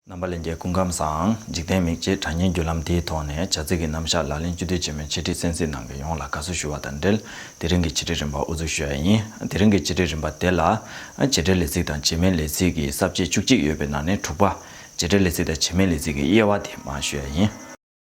རྣམ་པ་ལས་འགལ་ཀུན་ཁམས་སམ་འཇིག་རྟེན་མིག་ཅེས་གྲགས་སྙན་བརྒྱུད་ལམ་དེའི་ཐོག་ནས་བྱ་ཚིག་གི་རྣམ་བཞག་ལག་ལེན་བཅུ་དུས་ཆེན་མོའི་འཆད་ཁྲིད་གསན་གཟིགས་གནང་མཁན་ཡོངས་ལ་དགའ་བསུ་ཞུ་བ་དང་འབྲེལ་དེ་རིང་གི་འཆད་ཁྲིད་རིམ་པ་དབུ་འཛུགས་ཞུ་ཡ་ཡིན། དེ་རིང་གི་འཆད་ཁྲིད་རིམ་པ་དེ་ལ། བྱེད་འབྲེལ་ལས་ཚིག་དང་བྱེད་མིན་ལས་ཚིག་གི་གསར་བརྗེ་བཅུ་གཅིག་ཡོད་པའི་ནང་ནས་དྲུག་པ། བྱེད་འབྲེལ་ལས་ཚིག་དང་བྱེད་མིན་ལས་ཚིག་གི་དབྱེ་བ་དེ་མ་ཞུ་ཡ་ཡིན།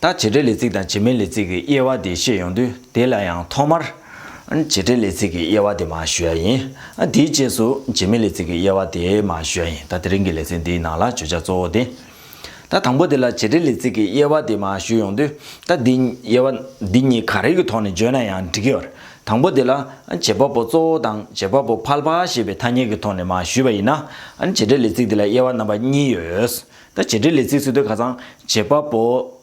ད་བྱེད་སྒྲའི་ལས་ཚིག་དང་བྱེད་མའི་ལས་ཚིག་གི་དབྱེ་བ་དེ་བཤད་ཡོང་དུས་དེ་ལ་ཡང་ཐོག་མར། བྱེད་སྒྲའི་ལས་ཚིག་གི་དབྱེ་བ་དེ་མ་ཞུ་ཡ་ཡིན། དེའི་རྗེས་སུ་བྱེད་མའི་ལས་ཚིག་གི་དབྱེ་བ་དེ་མ་ཞུ་ཡ་ཡིན་ད་དེ་རིང་གི་ལེ་ཚན་འདིའི་ནང་ལ་བརྗོད་བྱ་གཙོ་བོ་དེ། ད་དང་པོ་དེ་ལ་བྱེད་སྒྲའི་ལས་ཚིག་གི་དབྱེ་བ་དེ་མ་ཞུ་ཡོང་དུས་ད་འདི་དབྱེ་བ་འདི་གཉིས་ག་རེ་གི་ཐོག་ནས་བརྗོད་ན་ཡང་འགྲིག་གི། དང་པོ་དེ་ལ། བྱེད་པ་པོ་གཙོ་བོ་དང་བྱེད་པ་པོ་ཕལ་པ་ཞེས་པའི་ཐ་སྙད་ཀྱི་ཐོག་ནས་མ་ཞུས་པ་ཡིན་ན། བྱེད་སྒྲའི་ལས་ཚིག་དེ་ལ་དབྱེ་བ་རྣམ་པ་གཉིས་ཡོད། ད་བྱེད་འབྲེལ་ལས་ཚིག་ཚུལ་དོན་ཁ་ཚང་བྱེད་པ་པོ།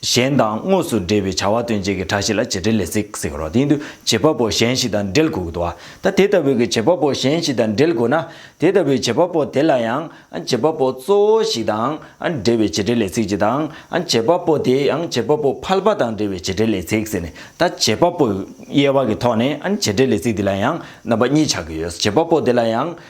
གཞན་དང་དངོས་སུ་འབྲེལ་བའི་བྱ་བ་སྟོན་བྱེད་ཀྱི་གྲ་ཞིག་ལ་བྱེད་འབྲེལ་ལས་ཚིག་ཟེར་རོ། དེ་ཡིན་དུས་བྱེད་པ་པོ་གཞན་ཞིག་དང་འབྲེལ་དགོས་དགོས་དོ། ད་དེ་ལྟ་བུའི་བྱེད་པ་པོ་གཞན་ཞིག་དང་འབྲེལ་དགོས་ན། དེ་ལྟ་བུའི་བྱེད་པ་པོ་དེ་ལ་ཡང་བྱེད་པ་པོ་གཙོ་བོ་ཞིག་དང་འབྲེལ་བའི་བྱེད་འབྲེལ་ལས་ཚིག་ཅིག་དང། བྱེད་པ་པོ་དེ་ཡང་བྱེད་པ་པོ་ཕལ་པ་དང་འབྲེལ་བའི་བྱེད་འབྲེལ་ལས་ཚིག་ཟེར་ནས་ད་བྱེད་པ་པོ་དབྱེ་བ་གི་ཐོག་ནས་བྱེད་འབྲེལ་ལས་ཚིག་འདི་ལ་ཡང་རྣམ་པ་གཉིས་ཆགས་ཀྱི་ཡོད། བྱེད་པ་པོ་དེ་ལ་ཡང།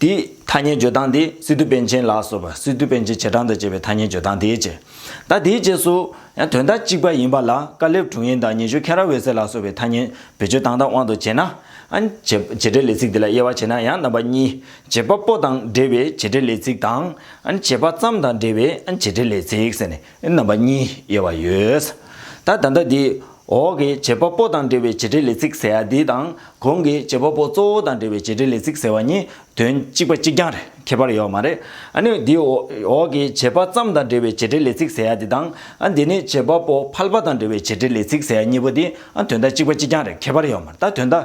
དེའི་ཐ་སྙད་བརྗོད་སྟངས་དེ་སི་ཏུ་པན་ཆེན་ལགས་སོགས་པ་སི་ཏུ་པན་ཆེན་བྱེ་བྲག་དང་བཅས་པའི་ཐ་སྙད་བརྗོད་སྟངས་དེའི་རྗེས་ཟླ་དེའི་རྗེས་སུ་ཡང་དོན་དག་གཅིག་པ་ཡིན་པ་ལ་ཀ་ལེབ་དྲུང་ཡིན་དང་ཉི་ཤུ་ཁེ་ར་འོད་ཟེར་ལགས་སོགས་པའི་ཐ་སྙད་བེད་སྤྱོད་དང་དང་དབང་དུ་བྱས་ན། བྱེད་འབྲེལ་ལས་ཚིག་དེ་ལ་དབྱེ་བ་བྱས་ན་ཡང་རྣམ་པ་གཉིས་བྱེད་པ་པོ་དང་འབྲེལ་བའི་བྱེད་འབྲེལ་ལས་ཚིག་དང། བྱེད་པ་ཙམ་དང་འབྲེལ་བའི་བྱེད་འབྲེལ་ལས་ཚིག་ཟེར་ནས་རྣམ་པ་གཉིས་དབྱེ་བ་ཡོད། ད་ལྟ་འདི་འདི་འོག་གི་བྱེད་པ་པོ་དང་འབྲེལ་བའི་བྱེད་འབྲེལ་ལས་ཚིག་ཟེར་བ་འདི་དང་གོང་གི་བྱེད་པ་པོ་གཙོ་བོ་དང་འབྲེལ་བའི་བྱེད་འབྲེལ་ལས་ཚིག་ཟེར་བ་གཉིས་དོན་གཅིག་པ་གཅིག་རྐྱང་རེད་ཁྱད་པར་ཡོད་མ་རེད་ཨ་ནི་འདི་འོག་གི་བྱེད་པ་ཙམ་དང་འབྲེལ་བའི་བྱེད་འབྲེལ་ལས་ཚིག་ཟེར་བ་འདི་དང་ཨ་འདི་ནི་བྱེད་པ་པོ་ཕལ་པ་དང་འབྲེལ་བའི་བྱེད་འབྲེལ་ལས་ཚིག་ཟེར་བ་གཉིས་པོ་འདི་ཨ་དོན་དག་གཅིག་པ་གཅིག་རྐྱང་རེད་ཁྱད་པར་ཡོད་མ་རེད་ད་དོན་དག་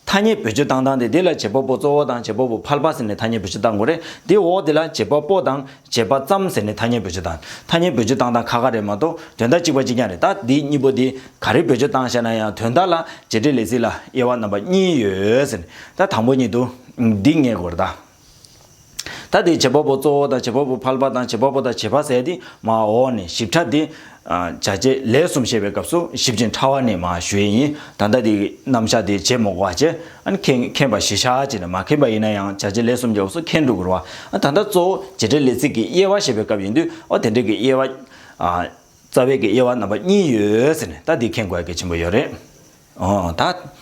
ཐ་སྙད་བོད་སྤྱི་དང་དང་དེ་དེ་ལ་བྱེད་པ་པོ་གཙོ་བོ་དང་བྱེད་པ་པོ་ཕལ་པ་ཟེར་ནས་ཐ་སྙད་བོད་སྤྱི་དང་གོ་རེད་དེ་འོག་དེ་ལ་བྱེད་པ་པོ་དང་བྱེད་པ་ཙམ་ཟེར་ནས་ཐ་སྙད་བོད་སྤྱི་དང་ཐ་སྙད་བོད་སྤྱི་དང་དང་ཁ་ཁ་རེད་མ་གཏོགས་དོན་དག་གཅིག་པ་གཅིག་རྐྱང་རེད་ད་འདི་གཉིས་པོ་འདི་ག་རེ་བོད་སྤྱི་དང་བཤད་ན་ཡང་དོན་དག་ལ་བྱེད་འབྲེལ་ལས་ཚིག་ལ་དབྱེ་བ་རྣམ་པ་གཉིས་ཡོད་ཟེར་ནས་ད་དང་པོ་ཉིད་དུ་འདི་ངེས་དགོས་རེད་ད། ཐ་དད་བྱེད་པ་པོ་གཙོ་བོ་དང་བྱེད་པ་པོ་ཕལ་པ་དང་བྱེད་པ་པོ་དང་བྱེད་པ་ཟད་དེ་མ་འོག་ནས་ཞིབ་ཕྲ་དེ། བྱ་བྱེད་ལས་གསུམ་བཤད་པའི་སྐབས་སུ་ཞིབ་ཅིང་ཕྲ་བ་ནི་མ་ཞུས་ཡིན་ད་ལྟ་དེ་རྣམ་གཞག་དེ་བྱེད་མོག་བ་བྱེད་མཁན་པ་བཞི་ཤ་ཅེ་ན་མ་མཁན་པ་ཡིན་ན་ཡང་བྱ་བྱེད་ལས་གསུམ་གྱི་འོག་སུ་མཁན་སྒྲུབ་དགོས་རོ། ད་ལྟ་གཙོ་བོ་བྱེད་བྲལ་ལས་ཚིག་གི་དབྱེ་བ་བཤད་པའི་སྐབས་ཡིན་དུས་ཨོ་དེ་འདྲ་གི་དབྱེ་བ། རྩ་བའི་གི་དབྱེ་བ་རྣམ་པ་གཉིས་ཡོད་ཟེར་ནས་ད་དེ་མཁྱེན་དགོས་གལ་ཆེན་པོ་ཡོད་རེད། ད།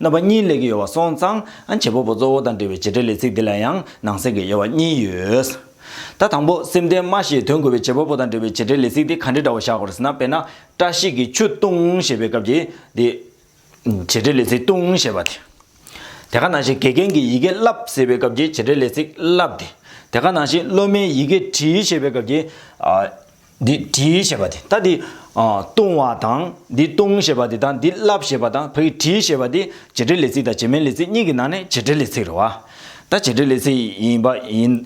རྣམ་པ་གཉིས་ལས་ཀྱི་ཡོལ་བ་སོང་ཙང་བྱེད་པོ་པོ་གཙོ་བོ་དང་འབྲེལ་བའི་བྱེད་འབྲེལ་ལས་ཚིག་འདི་ལ་ཡང་ནང་གསེས་ཀྱི་ཡོལ་བ་གཉིས་ཡོད། ད་དང་པོ་སེམས་ལྡན་མ་ཞེས་དོན་གོ་བའི་བྱེད་པོ་པོ་དང་འབྲེལ་བའི་བྱེད་འབྲེལ་ལས་ཚིག་འདི་ག་འདྲའི་འདྲ་བ་བཞག་གོ་ཟེར་ན་དཔེར་ན་བཀྲ་ཤིས་ཀྱིས་ཆུ་བཏུང་ཞེས་པའི་སྐབས་ཀྱི་འདི། བྱེད་འབྲེལ་ལས་ཚིག་བཏུང་ཞེས་པ་དེ། དེ་ག་ནང་བཞིན་དགེ་རྒན་གྱིས་ཡི་གེ་བསླབས་ཟེར་བའི་སྐབས་ཀྱི་བྱེད་འབྲེལ་ལས་ཚིག་བསླབས་དེ། དེ་ག་ནང་བཞིན་སློབ་མས་ཡི་གེ་བྲིས་ཞེས་པའི་སྐབས་ཀྱི། འདི་བྲི་ཞེས་པ་དེ་ད་འདི། བཏུང་བ་དང། འདི་བཏུང་ཞེས་པ་དེ་དང་འདི་བརླབ་ཞེས་པ་དང་བོད་ཀྱི་བྲི་ཞེས་པ་དེ་བྱེད་འབྲེལ་ལས་ཚིག་དང་བྱེད་མིན་ལས་ཚིག་གཉིས་ཀྱི་ནང་ནས་བྱེད་འབྲེལ་ལས་ཚིག་རེད་བ། ད་བྱེད་འབྲེལ་ལས་ཚིག་ཡིན་པ་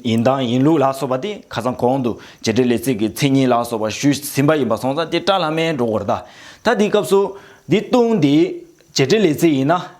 ཡིན་དང་ཡིན་ལུགས་ལ་སོགས་པ་དེ་ཁ་སང་གོང་དུ་བྱེད་འབྲེལ་ལས་ཚིག་གི་མཚན་ཉིད་ལ་སོགས་པ་ཞུས་ཟིན་པ་ཡིན་པ་སོང་ཙང་དེ་བཀྲ་ལྷ་མའི་འགྲོ་སྒོར་གདའ། ད་འདིའི་སྐབས་སུ། འདི་བཏུང་འདི་བྱེད་འབྲེལ་ལས་ཚིག་ཡིན་ན།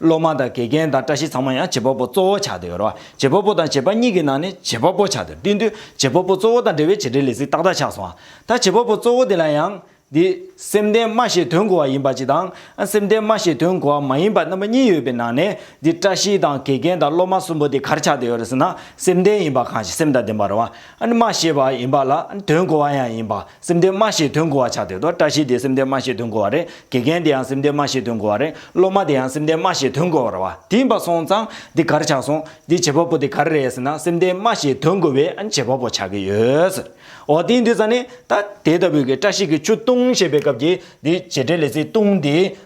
སློབ་མ་དང་དགེ་རྒན་དང་བཀྲ་ཤིས་ཚང་མ་ཡང་བྱེད་པ་པོ་གཙོ་བོ་ཆགས་ཏེ་ཡོད་རེད་བ། བྱེད་པ་པོ་དང་བྱེད་པ་གཉིས་ཀྱི་ནང་ནས་བྱེད་པ་པོ་ཆགས་ཏེ་བསྟུན་དུས་བྱེད་པ་པོ་གཙོ་བོ་དང་འབྲེལ་བའི་བྱེད་འབྲེལ་ལས་ཚིག་ཏག་ཏག་ཆགས་སོང་བ། ད་བྱེད་པ་པོ་གཙོ་བོ་དེ་ལ་ཡང། འདི། སེམས་ལྡན་སྨྲ་ཞེས་དོན་གོ་བ་ཡིན་པ་ཅིག་དང། སེམས་ལྡན་སྨྲ་ཞེས་དོན་གོ་བ་མ་ཡིན་པ་རྣམ་པ་གཉིས་ཡོད་པའི་ནང་ནས། འདི་བཀྲ་ཤིས་དང་དགེ་རྒན་དང་སློབ་མ་གསུམ་པོ་དེ་གར་ཆགས་ཏེ་ཡོད་རེད་ཟེར་ན་སེམས་ལྡན་ཡིན་པ་གང་ཞིག་སེམས་དང་ལྡན་པ་རེད་བ། སྨྲ་ཞེས་པ་ཡིན་པ་ལ་དོན་གོ་བ་ཡང་ཡིན་པ། སེམས་སྡེ་མ་ཞེས་དོན་གོ་བ་ཆགས་དེ་དོ་བཀྲ་ཤིས་དེ་སེམས་སྡེ་མ་ཞེས་དོན་གོ་བ་རེད་དགེ་རྒན་དེ་ཡང་སེམས་སྡེ་མ་ཞེས་དོན་གོ་བ་རེད་སློབ་མ་དེ་ཡང་སེམས་སྡེ་མ་ཞེས་དོན་གོ་བ་རེད་བ་དེ་འབའ་སོང་ཙང་འདི་གར་ཆགས་སོང་འདི་བྱེད་པ་པོ་དེ་གར་རེད་ཟེར་ན་སེམས་སྡེ་མ་ཞེས་དོན་གོ་བའི་བྱེད་པ་པོ་ཆགས་ཀྱི་ཡོད། འོ་དེའི་འདུས་ས་ནི་ད་དེ་ལྟ་བུའི་གི་བཀྲ་ཤིས་ཀྱི་ཆུ་བཏུང་ཞེས་པའི་སྐབས་ཀྱི་འདི་བྱེད་འབྲེལ་ལས་ཚིག་བཏུང་དེ།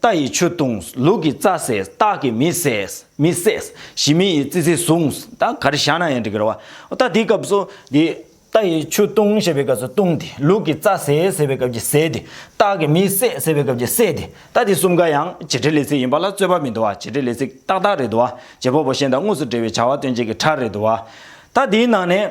རྟ་ཡི་ཆུ་བཏུངས། ལུག་གི་རྩྭ་བསྲེས། སྟག་གི་མི་བསྲེས། མི་བསྲེས། ཞི་མི་ཡི་ཙི་ཙི་བཟུངས། ད་ག་རེ་བཞག་ན་ཡང་འགྲིག་གི་རེད་བ། ད་དེའི་སྐབས་སུ། དེ། རྟ་ཡི་ཆུ་བཏུངས་ཞེས་པའི་སྐབས་སུ་བཏུངས་ཏེ། ལུག་གི་རྩྭ་བསྲེས་ཟེར་བའི་སྐབས་ཀྱི་བསྲེས་ཏེ། སྟག་གི་མི་བསྲེས་ཟེར་བའི་སྐབས་ཀྱི་བསྲེས་ཏེ། ད་དེ་གསུམ་ཀ་ཡང། བྱེད་འབྲེལ་ལས་ཚིག་ཡིན་པ་ལ་རྩོད་པ་མི་འདུག་བ། བྱེད་འབྲེལ་ལས་ཚིག་ཏག་ཏག་རེད་འདུག་བ། བྱེད་པོ་བོ་གཞན་དང་དངོས་སུ་འབྲེལ་བའི་བྱ་བ་སྟོན་བྱེད་ཀྱི་ཕྲ་རེད་འདུག་བ། ད་དེའི་ནང་ནས།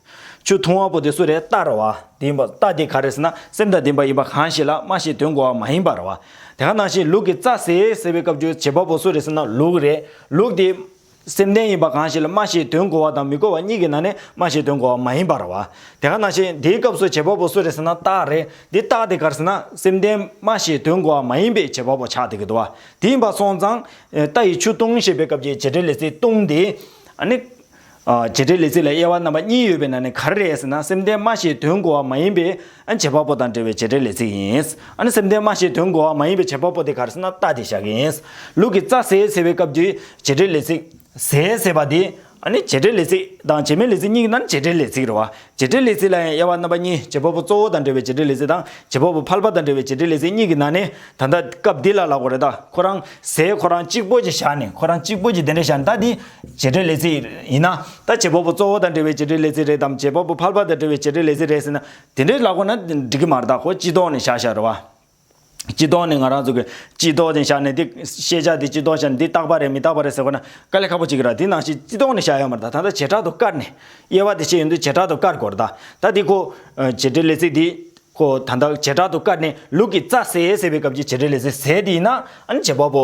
ཆུ་འཐུང་བ་པོ་དེ་སུ་རེད་ལྟ་ར་བ། དེ་ཡིན་པ་ལྟ་དེ་ག་རེད་ཟེར་ན་སེམས་དང་ལྡན་པ་ཡིན་པ་གང་ཞིག་ལ་སྨྲ་ཞིག་དོན་གོ་བ་མ་ཡིན་པ་ར་བ། དེ་ག་ནང་ཞིག་ལུག་གི་རྩ་ཟེ་ཟེར་བའི་སྐབས་རྒྱུ་བྱེད་པ་པོ་སུ་རེད་ཟེར་ན་ལུག་རེད། ལུག་དེ། སེམས་ལྡན་ཡིན་པ་གང་ཞིག་ལ་སྨྲ་ཞིག་དོན་གོ་བ་དང་མི་གོ་བ་གཉིས་ཀྱི་ནང་ནས་སྨྲ་ཞིག་དོན་གོ་བ་མ་ཡིན་པ་ར་བ། དེ་ག་ནང་ཞིག་དེའི་སྐབས་སུ་བྱེད་པ་པོ་སུ་རེད་ཟེར་ན་རྟགས་རེད། འདི་རྟགས་དེ་གར་ཟེར་ན་སེམས་ལྡན་སྨྲ་ཞིག་དོན་གོ་བ་མ་ཡིན་པའི་བྱེད་པ་པོ་ཆགས་ཐུག་གི་འདུག་བ། དེ་ཡིན་པ་སོང་ཙང། རྟ་ཡིས་ཆུ་བཏུང་ཞེས་པའི་སྐབས་ཀྱི་བྱེད་འབྲེལ་ལས་ཚིག་བཏུང་དེ། ཨ་ནི། བྱེད་འབྲེལ་ལས་ཚིག་ལ་དབྱེ་བ་རྣམ་པ་གཉིས་ཡོད་པའི་ནང་ནས་ག་རེ་རེད་ཟེར་ན་སེམས་ལྡན་སྨྲ་ཞེས་དོན་གོ་བ་མ་ཡིན་པའི་བྱེད་པ་པོ་དང་འབྲེལ་བའི་བྱེད་འབྲེལ་ལས་ཚིག་ཡིན། སེམས་ལྡན་སྨྲ་ཞེས་དོན་གོ་བ་མ་ཡིན་པའི་བྱེད་པ་པོ་དེ་ག་རེ་ཟེར་ན་རྟགས་དེ་བཞག་གི་ཡིན། ལུག་གི་རྩ་ཟས་ཟེར་བའི་སྐབས་ཀྱི་བྱེད་འབྲེལ་ལས་ཚིག། ཟས་ཟེར་བ་དེ། བྱེད་འབྲེལ་ལས་ཚིག་དང་བྱེད་མའི་ལས་ཚིག་གཉིས་ཀྱི་ནང་ནས་བྱེད་འབྲེལ་ལས་ཚིག་རེད་བ། བྱེ་བྲག་ལས་ཚིག་ལ་ཡང་དབྱེ་བ་རྣམ་པ་གཉིས་བྱེད་པ་པོ་གཙོ་བོ་དང་འབྲེལ་བའི་བྱེ་བྲག་ལས་ཚིག་དང་བྱེད་པ་པོ་ཕལ་པ་དང་འབྲེལ་བའི་བྱེ་བྲག་ལས་ཚིག་གཉིས་ཀྱི་ནང་ནས་ད་ལྟ་སྐབས་འདི་ལ་ལ་གོ་རེ་ད་ཁོ་རང་ཟས་ཁོ་རང་གཅིག་པོ་ཅིག་བཞག་ནས་ཁོ་རང་གཅིག་པོ་ཅིག་དེ་འདྲ་བཞག་ནས་ད་འདི་བྱེ་བྲག་ལས་ཚིག་ཡིན་ན་ད་བྱེད་པ་པོ་གཙོ་བོ་དང་འབྲེལ་བའི་བྱེ་བྲག་ལས་ཚིག་རེད་དམ་བྱེད་པ་པོ་ཕལ་པ་དང་འབྲེལ་བའི་བྱེ་བྲག་ལས་ཚིག་རེད་ཟེར་ན་དེ་འདྲའི་ལ་གོ་ན་འགྲིག་གི་མ་རེད་ད་ཁོ་སྤྱི་ལྡོག་ནས་བཞག་བཞག་རེད་བ། སྤྱི་ལྡོག་ནི་ང་རང་ཚོ་གི་སྤྱི་ལྡོག་ནས་བཞག་ནས་འདི་ཤེས་བྱ་འདི་སྤྱི་ལྡོག་བཞག་ནས་འདི་རྟག་པ་རེད་མི་རྟག་པ་རེད་ཟེར་བ་ན་དཀའ་ལས་ཁག་པོ་གཅིག་གི་ར་དེ་ནང་བཞིན་སྤྱི་ལྡོག་ནས་བཞག་ཡ་མ་རེད་ད་ད་ལྟ་བྱེ་བྲག་ཏུ་བཀར་ནས་དབྱེ་བ་དེ་བྱས་ཡོང་དུས་བྱེ་བྲག་ཏུ་བཀར་དགོས་རེད་ད་ད་འདི་ཁོ་བྱེ་བྲལ་ལས་ཚིག་འདི་ཁོ་ད་ད་བྱེ་བྲག་ཏུ་བཀར་ནས་ལུག་གི་རྩ་ཟས་ཟེར་བའི་སྐབས་ཀྱི་བྱེ་བྲལ་ལས་ཚིག་ཟས་དེ་ཡིན་ན་ཨ་ནི་བྱེད་པ་པོ་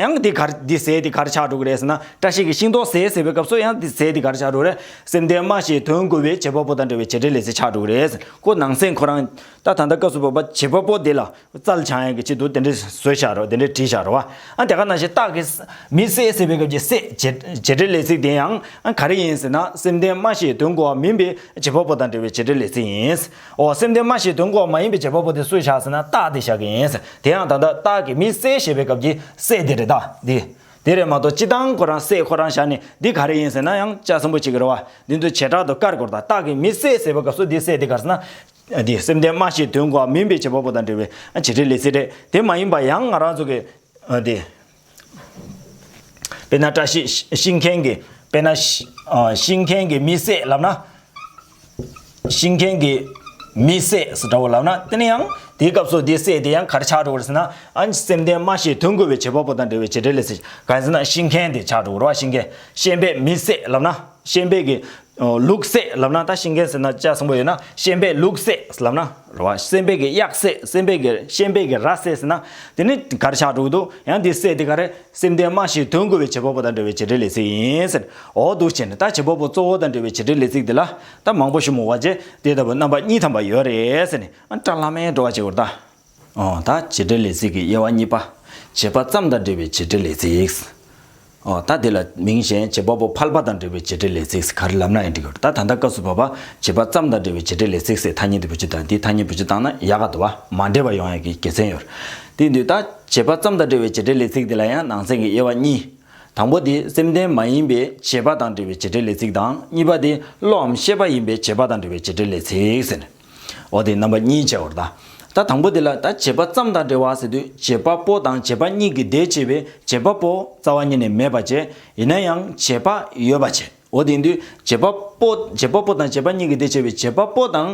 ཡང་དེ་གར་དེ་ཟས་དེ་གར་ཆགས་འགྲོ་གི་རེད་ཟེར་ན་བཀྲ་ཤིས་ཀྱི་ཤིང་ཏོག་ཟས་ཟེར་བའི་སྐབས་སུ་ཡང་དེ་ཟས་དེ་གར་ཆགས་འགྲོ་རེད། སེམས་ལྡན་སྨྲ་ཞེས་དོན་བསྒོ་བའི་བྱེད་པ་པོ་དང་འདྲ་བའི་བྱེད་འབྲེལ་ལས་ཟས་ཆགས་འགྲོ་གི་རེད་ཀོ་ནང་སེམས་ཁོ་རང། ད་ད་ལྟ་སྐབས་སུ་བབ་པ་བྱེད་པ་པོ་དེ་ལ་རྩལ་འཆང་ཡག་གི་ཆེད་དུ་དེ་འདྲའི་བཟོས་བཞག་རོགས་དེ་འདྲའི་བྲིས་བཞག་རོགས་ཨ་དེ་ག་ནང་བཞིན་བཏགས་གི། མི་ཟས་ཟེར་བའི་སྐབས་ཀྱི་ཟས་བྱེད་འབྲེལ་ལས་ཚིག་དེ་ཡང་ག་རེ་ཡིན་ཟེར་ན་སེམས་ལྡན་སྨྲ་ཞེས་དོན་བསྒོ་བ་མིན་པའི་བྱེད་པ་པོ་དང་འདྲ་བའི་བྱེད་འབྲེལ་ལས་ཚིག་ཡིན། འོ་སེམས་དོན་སྨྲ་ཞེས་དོན་གོ་བ་མ་ཡིན་པའི་བྱེད་པ་པོ་དེ་སུ་བྱ་ཟེར་ན་རྟགས་དེ་བཞག་གི་ཡིན། དེ་ཡང་ད་ལྟ་རྟགས་ཀྱི་མི་གསལ་ཞེས་པའི་སྐབས་ཀྱི་གསལ་དེ་རེད་ད། འདི་དེ་རེད་མ་གཏོགས་སྤྱི་དང་ཁོ་རང་གསལ་ཁོ་རང་བཞག་ནས་འདི་ག་རེ་ཡིན་ཟེར་ན་ཡང་དཔྱད་བཟང་པོ་བྱེད་ཀྱི་རེད་བ། འདི་ཚོ་བྱེ་བྲག་ཏུ་དཀར་སྐོར་དང་རྟགས་ཀྱི་མི་གསལ་ཟེར་བའི་སྐབས་སུ་འདི་གསལ་དེ་གར་ཟེར་ན། འདི་སེམས་དོན་སྨྲ་ཞེས་དོན་གོ་བ་མིན་པའི་བྱེད་པ་པོ་དང་འབྲེལ་བའི་བྱེད་ཁྲའི་ལས་ཚིག་རེད་དེ་མ་ཡིན་པ་ཡང་ང་རང་ཚོ་གི། འདི། དཔེར་ན་བཀྲ་ཤིས་ཤིང་མཁན་གྱི་དཔེར་ན། ཤིང་མཁན་གྱི་མི་བསད་ལབ་ན། ཤིང་མཁན་གྱི་མི་བསད་སུ་འདྲ་བོ་ལབ་ན་དེ་ནི་ཡང་དེའི་སྐབས་སུ་དེ་བསད་དེ་ཡང་གར་ཆག་འགྲོ་བར་ཟེར་ན། སེམས་ལྡན་སྨྲ་ཤེས་དོན་གོ་བའི་བྱེད་པ་པོ་དང་འབྲེལ་བའི་བྱེད་འབྲེལ་ལས། གང་ཟེར་ན་ཤིང་མཁན་དེ་ཆག་འགྲོ་བར་བ་ཤིང་མཁན་ཤེས་དཔལ་མི་བསད་ལབ་ན་ཤེས་དཔལ་གྱི་ལུགས་བསྲེགས་ལབ་ན་ད་ཤིང་རྒན་ཟེར་ན་བཅའ་གསུམ་པོ་ཡོད་ན་ཤན་དཔེ་ལུགས་བསྲེགས་ལབ་ན་ར་བ་སྲན་དཔེ་གི་གཡག་བསྲེགས་སྲན་དཔེ་གི་ཤན་དཔེ་གི་ར་བསྲེགས་ཟེར་ན་དེ་ནི་གར་ཆག་དྲུག་འདུག་ཡང་དེ་བསྲེགས་དེ་ག་རེ་སེམས་ལྡན་སྨྲ་ཞིག་དོན་གོ་བའི་བྱེད་པ་པོ་དང་འབྲེལ་བའི་བྱེད་འབྲེལ་ལས་ཚིག་ཡིན་ཟེར་འོ་འདུག་བྱས་ནས་ད་བྱེད་པ་པོ་གཙོ་བོ་དང་འབྲེལ་བའི་བྱེད་འབྲེལ་ལས་ཚིག་དེ་ལ་ད་མང་པོ་ཞུ་མོ་བ་རྗེ་དེ་ལྟ་བུ་རྣམ་པ་གཉིས་ཐམ་པ་ཡོད་རེད་ཟེར་ནས་ཨ་བཀྲ་ལྷ་མའི་བྲོ་བ་བྱེད་དགོས་རེད་ད། ད་བྱེད་འབྲེལ་ལས་ཚིག་གི་དབྱེ་བ་གཉིས་པ། བྱེད་པ་ཙམ་དང་འབྲེལ་བའི་བྱེད་འབྲེལ་ལས་ཚིག། ད་དེ་ལ་མིང་གཞན་བྱེད་པ་པོ་ཕལ་པ་དང་འབྲེལ་བའི་བྱེད་འབྲེལ་ལས་ཚིག་ག་རེ་ལབ་ན་ཡང་འགྲིག་གོ། ད་ད་ལྟ་སྐབས་སུ་བབ་པ། བྱེད་པ་ཙམ་དང་འབྲེལ་བའི་བྱེད་འབྲེལ་ལས་ཚིག་སའི་ཐ་སྙད་དུ་བུ་ཅི་དང་དེའི་ཐ་སྙད་བུ་ཅི་བཏང་ན་ཡག་ག་འདུག་བ། མ་འདྲེས་པ་ཡོང་ཡག་གི་དགེ་མཚན་ཡོད། དེ་དུས་ད་བྱེད་པ་ཙམ་དང་འབྲེལ་བའི་བྱེད་འབྲེལ་ལས་ཚིག་དེ་ལ་ཡང་ནང་ཚན་གྱི་དབྱེ་བ་གཉིས། དང་པོ་དེ་སེམས་ལྡན་མ་ཡིན་པའི་བྱེད་པ་དང་འབྲེལ་བའི་བྱེད་འབྲེལ་ལས་ཚིག་དང་གཉིས་པ་དེ་བློའམ་ཤེས་པ་ཡིན་པའི་བྱེད་པ་དང་འབྲེལ་བའི་བྱེད་འབྲེལ་ལས་ཚིག་ཟེར། འོ་དེ་རྣམ་པ་གཉིས་བྱས་བར་གདའ། ད་དང་པོ་དེ་ལ་ད་བྱེད་པ་ཙམ་དང་འབྲེལ་བ་ཟེར་དུས་བྱེད་པ་པོ་དང་བྱེད་པ་གཉིས་ཀྱི་ཟླས་བྱས་པའི་བྱེད་པ་པོ་རྩ་བ་ཉིད་ནས་མེད་པར་བྱས། ཡིན་ན་ཡང་བྱེད་པ་ཡོད་པར་བྱས། འོ་དེ་དུས་བྱེད་པ་པོ་བྱེད་པ་པོ་དང་བྱེད་པ་གཉིས་ཀྱི་ཟླས་བྱས་པའི་བྱེད་པ་པོ་དང་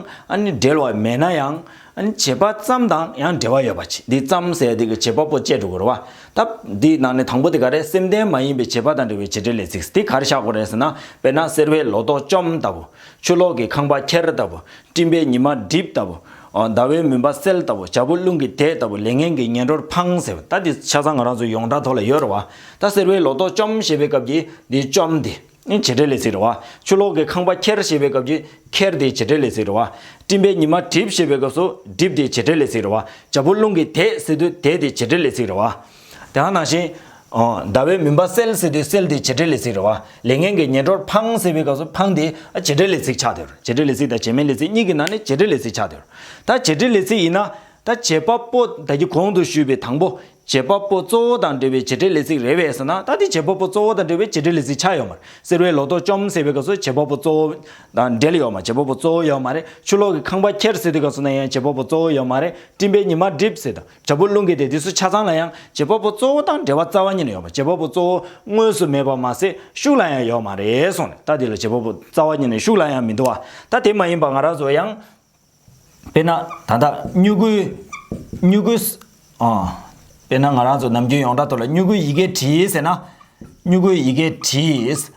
འབྲེལ་བ་མེད་ན་ཡང། བྱེད་པ་ཙམ་དང་ཡང་འབྲེལ་བ་ཡོད་པར་བྱས། འདི་ཙམ་ཟེར་དུས་བྱེད་པ་པོ་བཅས་འགྲོ་དགོས་རེད་བ། ད་འདིའི་ནང་ནས་དང་པོ་དེ་ག་རེ་སེམས་ལྡན་མ་ཡིན་པའི་བྱེད་པ་དང་འབྲེལ་བའི་བྱེད་འབྲེལ་ལས་ཚིག་འདི་ག་རེ་བཞག་དགོས་རེད་ཟེར་ན་དཔེར་ན་གསེར་བས་ལོ་ཏོག་བཅོམ་ལྟ་བུ། ཆུ་ལོག་གི་ཁང་པ་ཁྱེར་ལྟ་བུ། སྤྲིན་པའི་ཉི་མ་འགྲིབ་ལྟ་བུ། ཟླ་བའི་མུན་པ་སེལ་ལྟ་བུ། བྱ་ཕོ་རླུང་གིས་དེད་ལྟ་བུ་ལས་ངན་གྱི་ངན་འགྲོར་འཕང་ཟེར་བ་ད་འདི་ཆ་ཚང་ང་རང་ཚོའི་ཡོངས་གྲགས་ཐོག་ལ་ཡོད་རེད་བ། ད་ཟེར་བའི་ལོ་ཏོག་བཅོམ་ཞེས་པའི་སྐབས་ཀྱི་འདི་བཅོམ་སྟེ། བྱེད་འབྲེལ་ལས་ཚིག་རེད་བ། ཆུ་ལོག་གི་ཁང་པ་ཁྱེར་ཞེས་པའི་སྐབས་ཀྱི་ཁྱེར་འདི་བྱེད་འབྲེལ་ལས་ཚིག་རེད་བ། སྤྲིན་པའི་ཉི་མ་གྲིབ་ཞེས་པའི་སྐབས་སུ་གྲིབ་འདི་བྱེད་འབྲེལ་ལས་ཚིག་རེད་བ། བྱ་ཕོ་རླུང་གིས་དེད་ཟེར་དུས་དེད་འདི་བྱེད་འབྲེལ་ལས་ཚིག་རེད་བ། དེའང་ནང་བཞིན། ཟླ་བའི་མུན་པ་སེལ་ཟེར་དུས་སེལ་དེ་བྱེད་འབྲེལ་ལས་ཚིག་རེད་བ། ལས་ངན་གྱི་ཉེ་འགྲོར་ཕང་ཟེར་བའི་སྐབས་སུ་ཕང་དེ་བྱེད་འབྲེལ་ལས་ཚིག་ཆགས་འདོད། བྱེད་འབྲེལ་ལས་ཚིག་དང་བྱེད་མིན་ལས་ཚིག་གཉིས་ཀྱི་ནང་ནས་བྱེད་འབྲེལ་ལས་ཚིག་ཆགས་འདོད། ད་བྱེད་འབྲེལ་ལས་ཚིག་ཡིན་ན། ད་བྱེད་པ་པོ་ད་ཀྱི་གོང་དུ་ཞུས་པའི་དང་པོ། བྱེད་པ་པོ་གཙོ་བོ་དང་འབྲེལ་བའི་བྱེད་འབྲེལ་ལས་ཚིག་རེད་བས་ཟེར་ན་ད་དེ་བྱེད་པ་པོ་གཙོ་བོ་དང་འབྲེལ་བའི་བྱེད་འབྲེལ་ལས་ཚིག་ཆགས་ཡོད་མ་རེད། གསེར་བའི་ལོ་ཏོག་བཅོམ་ཟེར་བའི་སྐབས་སུ་བྱེད་པ་པོ་གཙོ་བོ། དང་འབྲེལ་ཡོད་མ་རེད་བྱེད་པ་པོ་གཙོ་བོ་ཡོད་མ་རེད། ཆུ་ལོག་གི་ཁང་པ་ཁྱེར་ཟེར་དུས་སྐབས་སུ་ན་ཡང་བྱེད་པ་པོ་གཙོ་བོ་ཡོད་མ་རེད་སྤྲིན་པའི་ཉི་མ་བསྒྲིབས་ཟེར་དུས། དྲ་འབུ་རླུང་གི་དེ་དུས་སུ་ཆ་ཚང་ལ་ཡང་བྱེད་པ་པོ་གཙོ་བོ་དང་འབྲེལ་བ་རྩ་བ་ཉིད་ནས་ཡོད་པ་བྱེད་པ་པོ་གཙོ་བོ་དངོས་སུ་མེད་པར་མ་ཟད་ཤུགས་ལ་ཡང་ཡོད་མ་རེད་སོང་ནས་ད་དེ་ལ་བྱེད་པ་པོ་རྩ་བ་ཉིད་ནས་ཤུགས་ལ་ཡང་མི་འདུ་བ་ད་དེ་མ་ཡིན་པ་ང་རང་ཚོ་ཡང། དཔེར་ན་ད་ལྟ་སྨྱུ་གུའི། སྨྱུ་གུའི། དཔེར་ན་ང་རང་ཚོ་ནམ་རྒྱུན་ཡོངས་གྲགས་ཐོག་ལ་སྨྱུ་གུའི་ཡི་གེ་བྲིས་ཟེར་ན། སྨྱུ་གུའི་ཡི་གེ་བྲིས།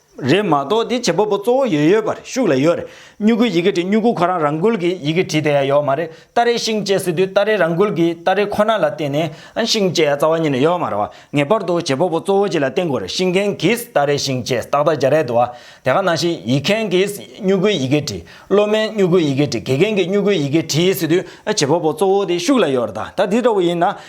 རེད་མ་གཏོགས་དེ་བྱེད་པ་པོ་གཙོ་བོ་ཡོད་ཡོད་པ་རེད་ཤུགས་ལ་ཡོད་རེད་སྨྱུ་གུའི་ཡི་གེ་བྲིས་སྨྱུ་གུ་ཁོ་རང་རང་འགུལ་གྱི་ཡི་གེ་བྲིས་དེ་ཡ་ཡོད་མ་རེད་སྟ་རེའི་ཤིང་བཅད་ཟེར་དུས་སྟ་རེ་རང་འགུལ་གྱི་སྟ་རེ་ཁོ་ན་ལ་བརྟེན་ནས་ཤིང་བཅད་ཡ་རྩ་བ་ཉིད་ནས་ཡོད་མ་རེད་བ་ངེས་པར་དུ་བྱེད་པ་པོ་གཙོ་བོ་གཅིག་ལ་བརྟེན་དགོས་རེད་ཤིང་མཁན་གྱིས་སྟ་རེ་ཤིང་བཅད་ཏག་ཏག་བྱ་རེད་དུ་བ་དེ་ག་ནང་བཞིན་ཡིག་མཁན་གྱིས་སྨྱུ་གུའི་ཡི་གེ་བྲིས་སློབ་མས་སྨྱུ་གུའི་ཡི་གེ་བྲིས་དགེ་རྒན་གྱིས་སྨྱུ་གུའི་ཡི་གེ་བྲིས་ཟེར་དུས་བྱེད་པ་པོ་གཙོ་བོ་དེ་ཤུགས་ལ་ཡོད་རེད་ད་ད་དེ་འདྲ་བོ་ཡིན་ན།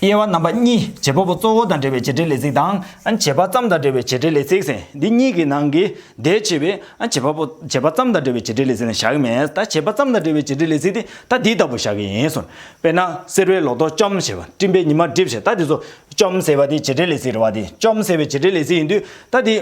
དབྱེ་བ་རྣམ་པ་གཉིས་བྱེད་པ་པོ་གཙོ་བོ་དང་འབྲེལ་བའི་བྱེད་འབྲེལ་ལས་ཚིག་དང། བྱེད་པ་ཙམ་དང་འབྲེལ་བའི་བྱེད་འབྲེལ་ལས་ཚིག་ཟེར། འདི་གཉིས་ཀྱི་ནང་གི་ཟླས་ཕྱེ་བའི། བྱེད་པ་པོ། བྱེད་པ་ཙམ་དང་འབྲེལ་བའི་བྱེད་འབྲེལ་ལས་ཚིག་ནི་བཞག་གི་མེད། ད་བྱེད་པ་ཙམ་དང་འབྲེལ་བའི་བྱེད་འབྲེལ་ལས་ཚིག་དེ་ད་འདི་ལྟ་བུ་བཞག་གི་ཡིན། དཔེར་ན། གསེར་བའི་ལོ་ཏོག་བཅོམ་ཞེས་པ། སྤྲིན་པའི་ཉི་མ་བསྒྲིབས་ཞེས་ད་འདི་ཚོ། བཅོམ་ཟེར་བ་དེ་བྱེད་འབྲེལ་ལས་ཚིག་རེད་བ་དེ། བཅོམ་ཟེར་བའི་བྱེད་འབྲེལ་ལས་ཚིག་ཡིན་དུས་ད་འདི།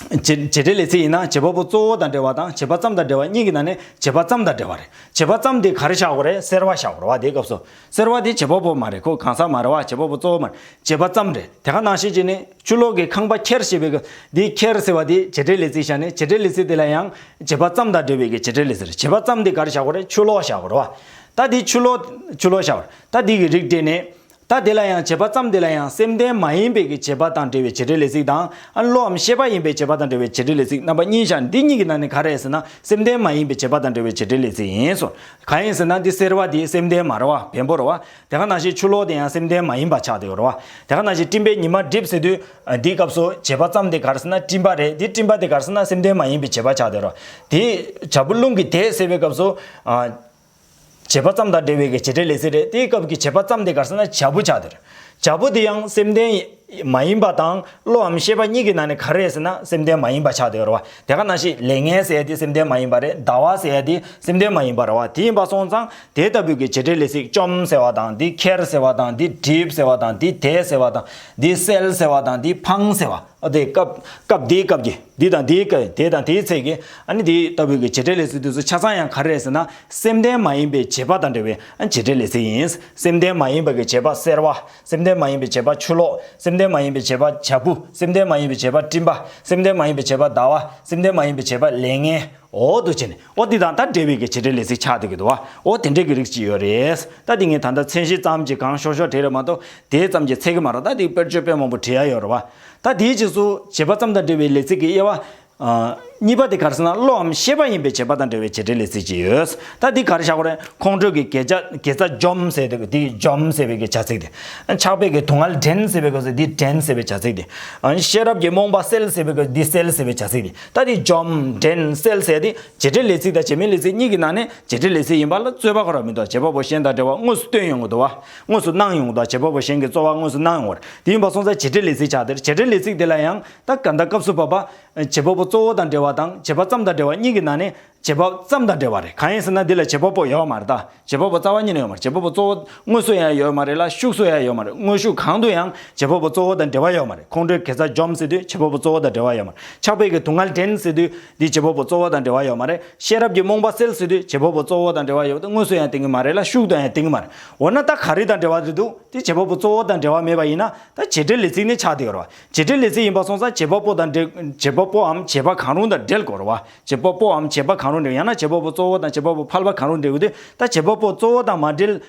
བྱེད་འབྲེལ་ལས་ཚིག་ཡིན་ན་བྱེད་པ་པོ་གཙོ་བོ་དང་འབྲེལ་བ་དང་བྱེད་པ་ཙམ་དང་འབྲེལ་བ་གཉིས་ཀྱི་ནང་ནས་བྱེད་པ་ཙམ་དང་འབྲེལ་བ་རེད། བྱེད་པ་ཙམ་དེ་ག་རེ་བྱ་འོག་རེད་སེར་བ་བྱ་འོག་རེད་བ་དེའི་སྐབས་སུ། སེར་བ་དེ་བྱེད་པ་པོ་མ་རེད་ཁོ་གང་ཟག་མ་རེད་བ་བྱེད་པ་པོ་གཙོ་བོ་མ་རེད་བྱེད་པ་ཙམ་རེད་དེ་ག་ནང་བཤད་ཀྱི་ནི་ཆུ་ལོག་གི་ཁང་པ་ཁྱེར་ཞེས་པའི་སྐབས་འདིའི་ཁྱེར་ཟེར་བ་དེ་བྱེད་འབྲེལ་ལས་ཚིག་བྱ་ནི་བྱེད་འབྲེལ་ལས་ཚིག་དེ་ལ་ཡང་བྱེད་པ་ཙམ་དང་འབྲེལ་བའི་བྱེད་འབྲེལ་ལས་ཚིག་རེད་བྱེད་པ་ཙམ་དེ་ག་རེ་བྱ་འོག་རེད་ཆུ་ལོག་བྱ་འོག་རེད་བ། ད་དེ་ཆུ་ལོག་ཆུ་ལོག་བྱ་འོག་རེད་ད་དེ་གི་རིགས་འགྲེས་ནས། ད་དེ་ལ་ཡང་བྱེད་པ་ཙམ་དེ་ལ་ཡང་སེམས་ལྡན་མ་ཡིན་པའི་གྱི་བྱེད་པ་དང་འབྲེལ་བའི་བྱེད་འབྲེལ་ལས་ཚིག་དང། ཨ་བློའམ་ཤེས་པ་ཡིན་པའི་བྱེད་པ་དང་འབྲེལ་བའི་བྱེད་འབྲེལ་ལས་ཚིག་རྣམ་པ་གཉིས་ཤར་འདི་གཉིས་ཀྱི་ནང་ནས་ག་རེ་ཟེར་ན་སེམས་ལྡན་མ་ཡིན་པའི་བྱེད་པ་དང་འབྲེལ་བའི་བྱེད་འབྲེལ་ལས་ཚིག་ཡིན། སོ། གང་ཡིན་ཟེར་ན་འདི་སེར་བ་དེ་སེམས་ལྡན་མ་ར་བ་བེམ་པོ་ར་བ། དེ་ག་ནང་བཞིན་ཆུ་ལོག་དེ་ཡང་སེམས་ལྡན་མ་ཡིན་པ་ཆགས་དེ་ར་བ། དེ་ག་ནང་བཞིན་སྤྲིན་པའི་ཉི་མ་བསྒྲིབས་ཟེར་དུས། འདིའི་སྐབས་སུ་བྱེད་པ་ཙམ་དེ་ག་རེ་ཟེར་ན་སྤྲིན་པ་རེད་དེ་སྤྲིན་པ་དེ་ག་རེ་ཟེར་ན་སེམས་ལྡན་མ་ཡིན་པའི་བྱེད་པ་ཆགས་དེ་ར་བ། དེའི། བྱ་སྤུ་རླུང་གིས་དེད་ཟེར་བའི་སྐབས་སུ། བྱེད་པ་ཙམ་དང་འབྲེལ་བའི་གི་བྱེད་བྲལ་ལས་ཚིག་རེད་དེའི་སྐབས་ཀྱི་བྱེད་པ་ཙམ་དེ་གར་སོང་ན་བྱ་བུ་ཆགས་དེར། བྱ་བུ་དེ་ཡང་སེམས་ལྡན། མ་ཡིན་པ་དང་བློའམ་ཤེས་པ་གཉིས་ཀྱི་ནང་ནས་ག་རེ་ཟེར་ན་སེམས་ལྡན་མ་ཡིན་པ་ཆགས་དེར་བ། དེ་ག་ན་ཞིག་ལས་ངན་ཟེར་དེ་སེམས་ལྡན་མ་ཡིན་པ་རེད་ཟླ་བ་ཟེར་དེ་སེམས་ལྡན་མ་ཡིན་པར་བ་དེ་ཡིན་པ་སོང་ཙང་དེ་ལྟ་བུའི་གི་བྱེད་བྲལ་ལས་ཚིག་བཅོམ་ཟེར་བ་དང་འདི་ཁྱེར་ཟེར་བ་དང་འདི་སྒྲིབ་ཟེར་བ་དང་འདི་དེད་ཟེར་བ་དང་འདི་སེལ་ཟེར་བ་དང་འདི་འཕང་ཟེར་བ། ཨ་དེ་སྐབས། སྐབས་དེའི་སྐབས་ཀྱི། འདི་དང་དེའི་སྐབས་ཀྱི་དེ་དང་དེའི་ཚེ་ཀྱི། ཨ་ནི་དེ་ལྟ་བུའི་གྱི་བྱེད་འབྲེལ་ལས་ཚིག་དུས་སུ་ཆ་ཚང་ཡང་ག་རེ་རེད་ཟེར་ན། སེམས་ལྡན་མ་ཡིན་པའི་བྱེད་པ་དང་འབྲེལ་བའི་ཨ་བྱེད་འབྲེལ་ལས་ཚིག་ཡིན། སེམས་ལྡན་མ་ཡིན་པ་གྱི་བྱེད་པ་སེར་བ། སེམས་ལྡན་མ་ཡིན་པའི་བྱེད་པ་ཆུ་ལོག། སེམས་ལྡན་མ་ཡིན་པའི་བྱེད་པ་བྱ་སྤུ། སེམས་ལྡན་མ་ཡིན་པའི་བྱེད་པ་སྤྲིན་པ། སེམས་ལྡན་མ་ཡིན་པའི་བྱེད་པ་ཟླ་བ། སེམས་ལྡན་མ་ཡིན་པའི་བྱེད་པ་ལས་ངན། འོ་དུ་བྱས་ནས་འོ་དེ་དང་ད་འབྲེལ་བའི་གི་བྱེད་འབྲེལ་ལས་ཚིག་ཆགས་འདུག་གི་འདུག་བ་འོ་དེ་འདྲའི་གི་རིགས་ཅིག་ཡོད་རེད། ད་དེ་ངས་ད་ལྟ་མཚན་གཞི་ཙམ་གྱིས་གང་ཤོར་ཤོར་བྲིས་རེད་མ་གཏོགས་དེ་ཙམ་གྱིས་ཚད་གི་མ་རོག་ད་དེ་དཔེར་བརྗོད་དཔེ་མང་པོ་བྲིས་ཡ་ཡོད་རེད་བ། ད་དེའི་རྗེས་སུ་བྱེད་པ་ཙམ་དང་འབྲེལ་བའི་ལས་ཚིག་གི་དབྱེ་བ། གཉིས་པ་དེ་གར་སེམས་ན་བློའམ་ཤེས་པ་ཡིན་པའི་བྱེད་པ་དང་འབྲེལ་བའི་བྱེད་འབྲེལ་ལས་ཚིག་ཅིག་ཡོད། ད་དེ་གར་བཞག་གོ་རེད་ཁོང་ཁྲོས་གི་གེ་ཆ་གེ་ཚ་འཇོམས་ཟེར་འདུག་གི་དེ་འཇོམས་ཟེར་བའི་གི་བྱ་ཚིག་དེ། ཆགས་པའི་གི་དུག་མངལ་འདྲེན་ཟེར་བའི་གི་སོ་དེ་འདྲེན་ཟེར་བའི་བྱ་ཚིག་དེ། ཤེས་རབ་ཀྱི་རྨོངས་པ་སེལ་ཟེར་བའི་གི་དེ་སེལ་ཟེར་བའི་བྱ་ཚིག་དེ། ལྟ་སྟེ་བཅོམ་འདྲན་སེལ་ཟེར་ཏེ་བྱེད་འབྲེལ་ལས་ཚིག་དང་བྱེད་མིན་ལས་ཚིག་གཉིས་ཀྱི་ནང་ནས་བྱེད་འབྲེལ་ལས་ཚིག་ཡིན་པ་ལ་རྩོད་པ་གོ་ར་མི་འདུག་བྱེད་པ་པོ་གཞན་དང་འབྲེལ་བ་དངོས་སུ་སྟོན་ཡོང་གི་འདུག་བ། དངོས་སུ་གནང་ཡོང་གི་འདུག་བྱེད་པ་པོ་གཞན་གྱི་རྩོལ་བ་དངོས་སུ་གནང་ཡོང་བར་དེ་ཡིན་པ་སོང་ཚ་བྱེད་འབྲེལ་ལས་ཚིག་ཆགས་དེར་བྱེད་འབྲེལ་ལས་ཚིག་དེ་ལ་ཡང་ད་ག་ད་སྐབས་སུ་བབ་པ། བྱེད་པ་པོ་གཙོ་བོ་དང་འབྲེལ་བ་དང་བྱེད་པ་ཙམ་དང་འབྲེལ་བ་གཉིས་ཀྱི་ནང་ནས་བྱེད་པ་པོ་ཙམ་དང་འབྲེལ་བ་རེད་གང་ཡིན་ཟེར་ན་འདི་ལ་བྱེད་པ་པོ་ཡོད་པ་མ་རེད་ད་བྱེད་པ་པོ་རྩ་བ་ཉིད་ནས་ཡོད་མ་རེད་བྱེད་པ་པོ་གཙོ་བོ་དངོས་སུ་ཡང་ཡོད་མ་རེད་ལ་ཤུགས་སུ་ཡང་ཡོད་མ་རེད་དངོས་ཤུགས་གང་དུ་ཡང་བྱེད་པ་པོ་གཙོ་བོ་དང་འབྲེལ་བ་ཡོད་མ་རེད་ཁོང་ཁྲོའི་གེ་རྩ་འཇོམས་ཟེར་དུས་བྱེད་པ་པོ་གཙོ་བོ་དང་འབྲེལ་བ་ཡོད་མ་རེད་ཕྱག་དཔེ་གྱི་དུག་ལྔ་འདྲེན་ཟེར་དུས་འདི་བྱེད་པ་པོ་གཙོ་བོ་དང་འབྲེལ་བ་ཡོད་མ་རེད་ཤེས་རབ་ཀྱི་རྨོངས་པ་སེལ་ཟེར་དུས་བྱེད་པ་པོ་གཙོ་བོ་དང་འབྲེལ་བ་ཡོད་དེ་དངོས་སུ་ཡང་དེང་གི་མ་རེད་ལ་ཤུགས་དང་ཡང་དེང་གི་མ་རེད་འོ་ན་ད་ག་རེ་དང་འབྲེལ་བ་རེད་འདུག་དེ་བྱེད་པ་པོ་གཙོ་བོ་དང་འབྲེལ་བ་མེད་པ་ཡིན་ན་ད་བྱེད་འབྲེལ་ལས་ཚིག་ནི་ཆགས་ཏེ་ཡོད་རེད་བྱེད་འབྲེལ་ལས་ཚིག་ཡིན་པ་སོང་ཙང་བྱེད་པ་པོ་དང་འབྲེལ་བྱེད་པ་པོའམ་བྱེད་པ་གང་རུང་དང་འབྲེལ་དགོས་རེད་བ། བྱེད་པ་པོའམ་བྱེད་པ་གང་རུང་འབྲེལ་ཡང་ན་བྱེད་པ་པོ་གཙོ་བོ་དང་བྱེད་པ་པོ་ཕལ་པ་གང་རུང་འབྲེལ་དགོས་ཏེ་ད་བྱེད་པ་པོ་གཙོ་བོ་དང་མ་འབྲེལ།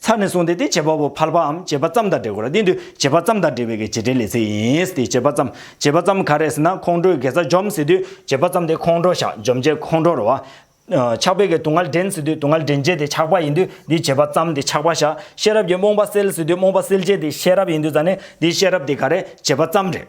ཚར་ནས་བཟུང་སྟེ་དེ་བྱེད་པ་པོ་ཕལ་པའམ་བྱེད་པ་ཙམ་དང་འབྲེལ་དགོས་ལ་དེ་དུས་བྱེད་པ་ཙམ་དང་འབྲེལ་བའི་གེགས་བྱེད་འབྲེལ་ལས་ཚིག་ཡིན། དེ་བྱེད་པ་ཙམ། བྱེད་པ་ཙམ་ག་རེ་ཟེར་ན་ཁོང་ཁྲོའི་དགེ་རྩ་འཇོམས་ཟེར་དུས་བྱེད་པ་ཙམ་དེ་ཁོང་ཁྲོ་བཤགས་འཇོམས་བྱེད་ཁོང་ཁྲོ་རུ་བ། ཆགས་པའི་གེགས་དུག་ལྔ་འདྲེན་ཟེར་དུས་དུག་ལྔ་འདྲེན་བྱེད་དེ་ཆགས་པ་ཡིན་དུས་དེ་བྱེད་པ་ཙམ་དེ་ཆགས་པ་བཤགས་ཤེས་རབ་ཀྱིས་རྨོངས་པ་སེལ་ཟེར་དུས་རྨོངས་པ་སེལ་བྱེད་དེ་ཤེས་རབ་ཡིན་དུས་ད་ནི་དེའི་ཤེས་རབ་དེ་ག་རེ་བྱེད་པ་ཙམ་འབྲེལ།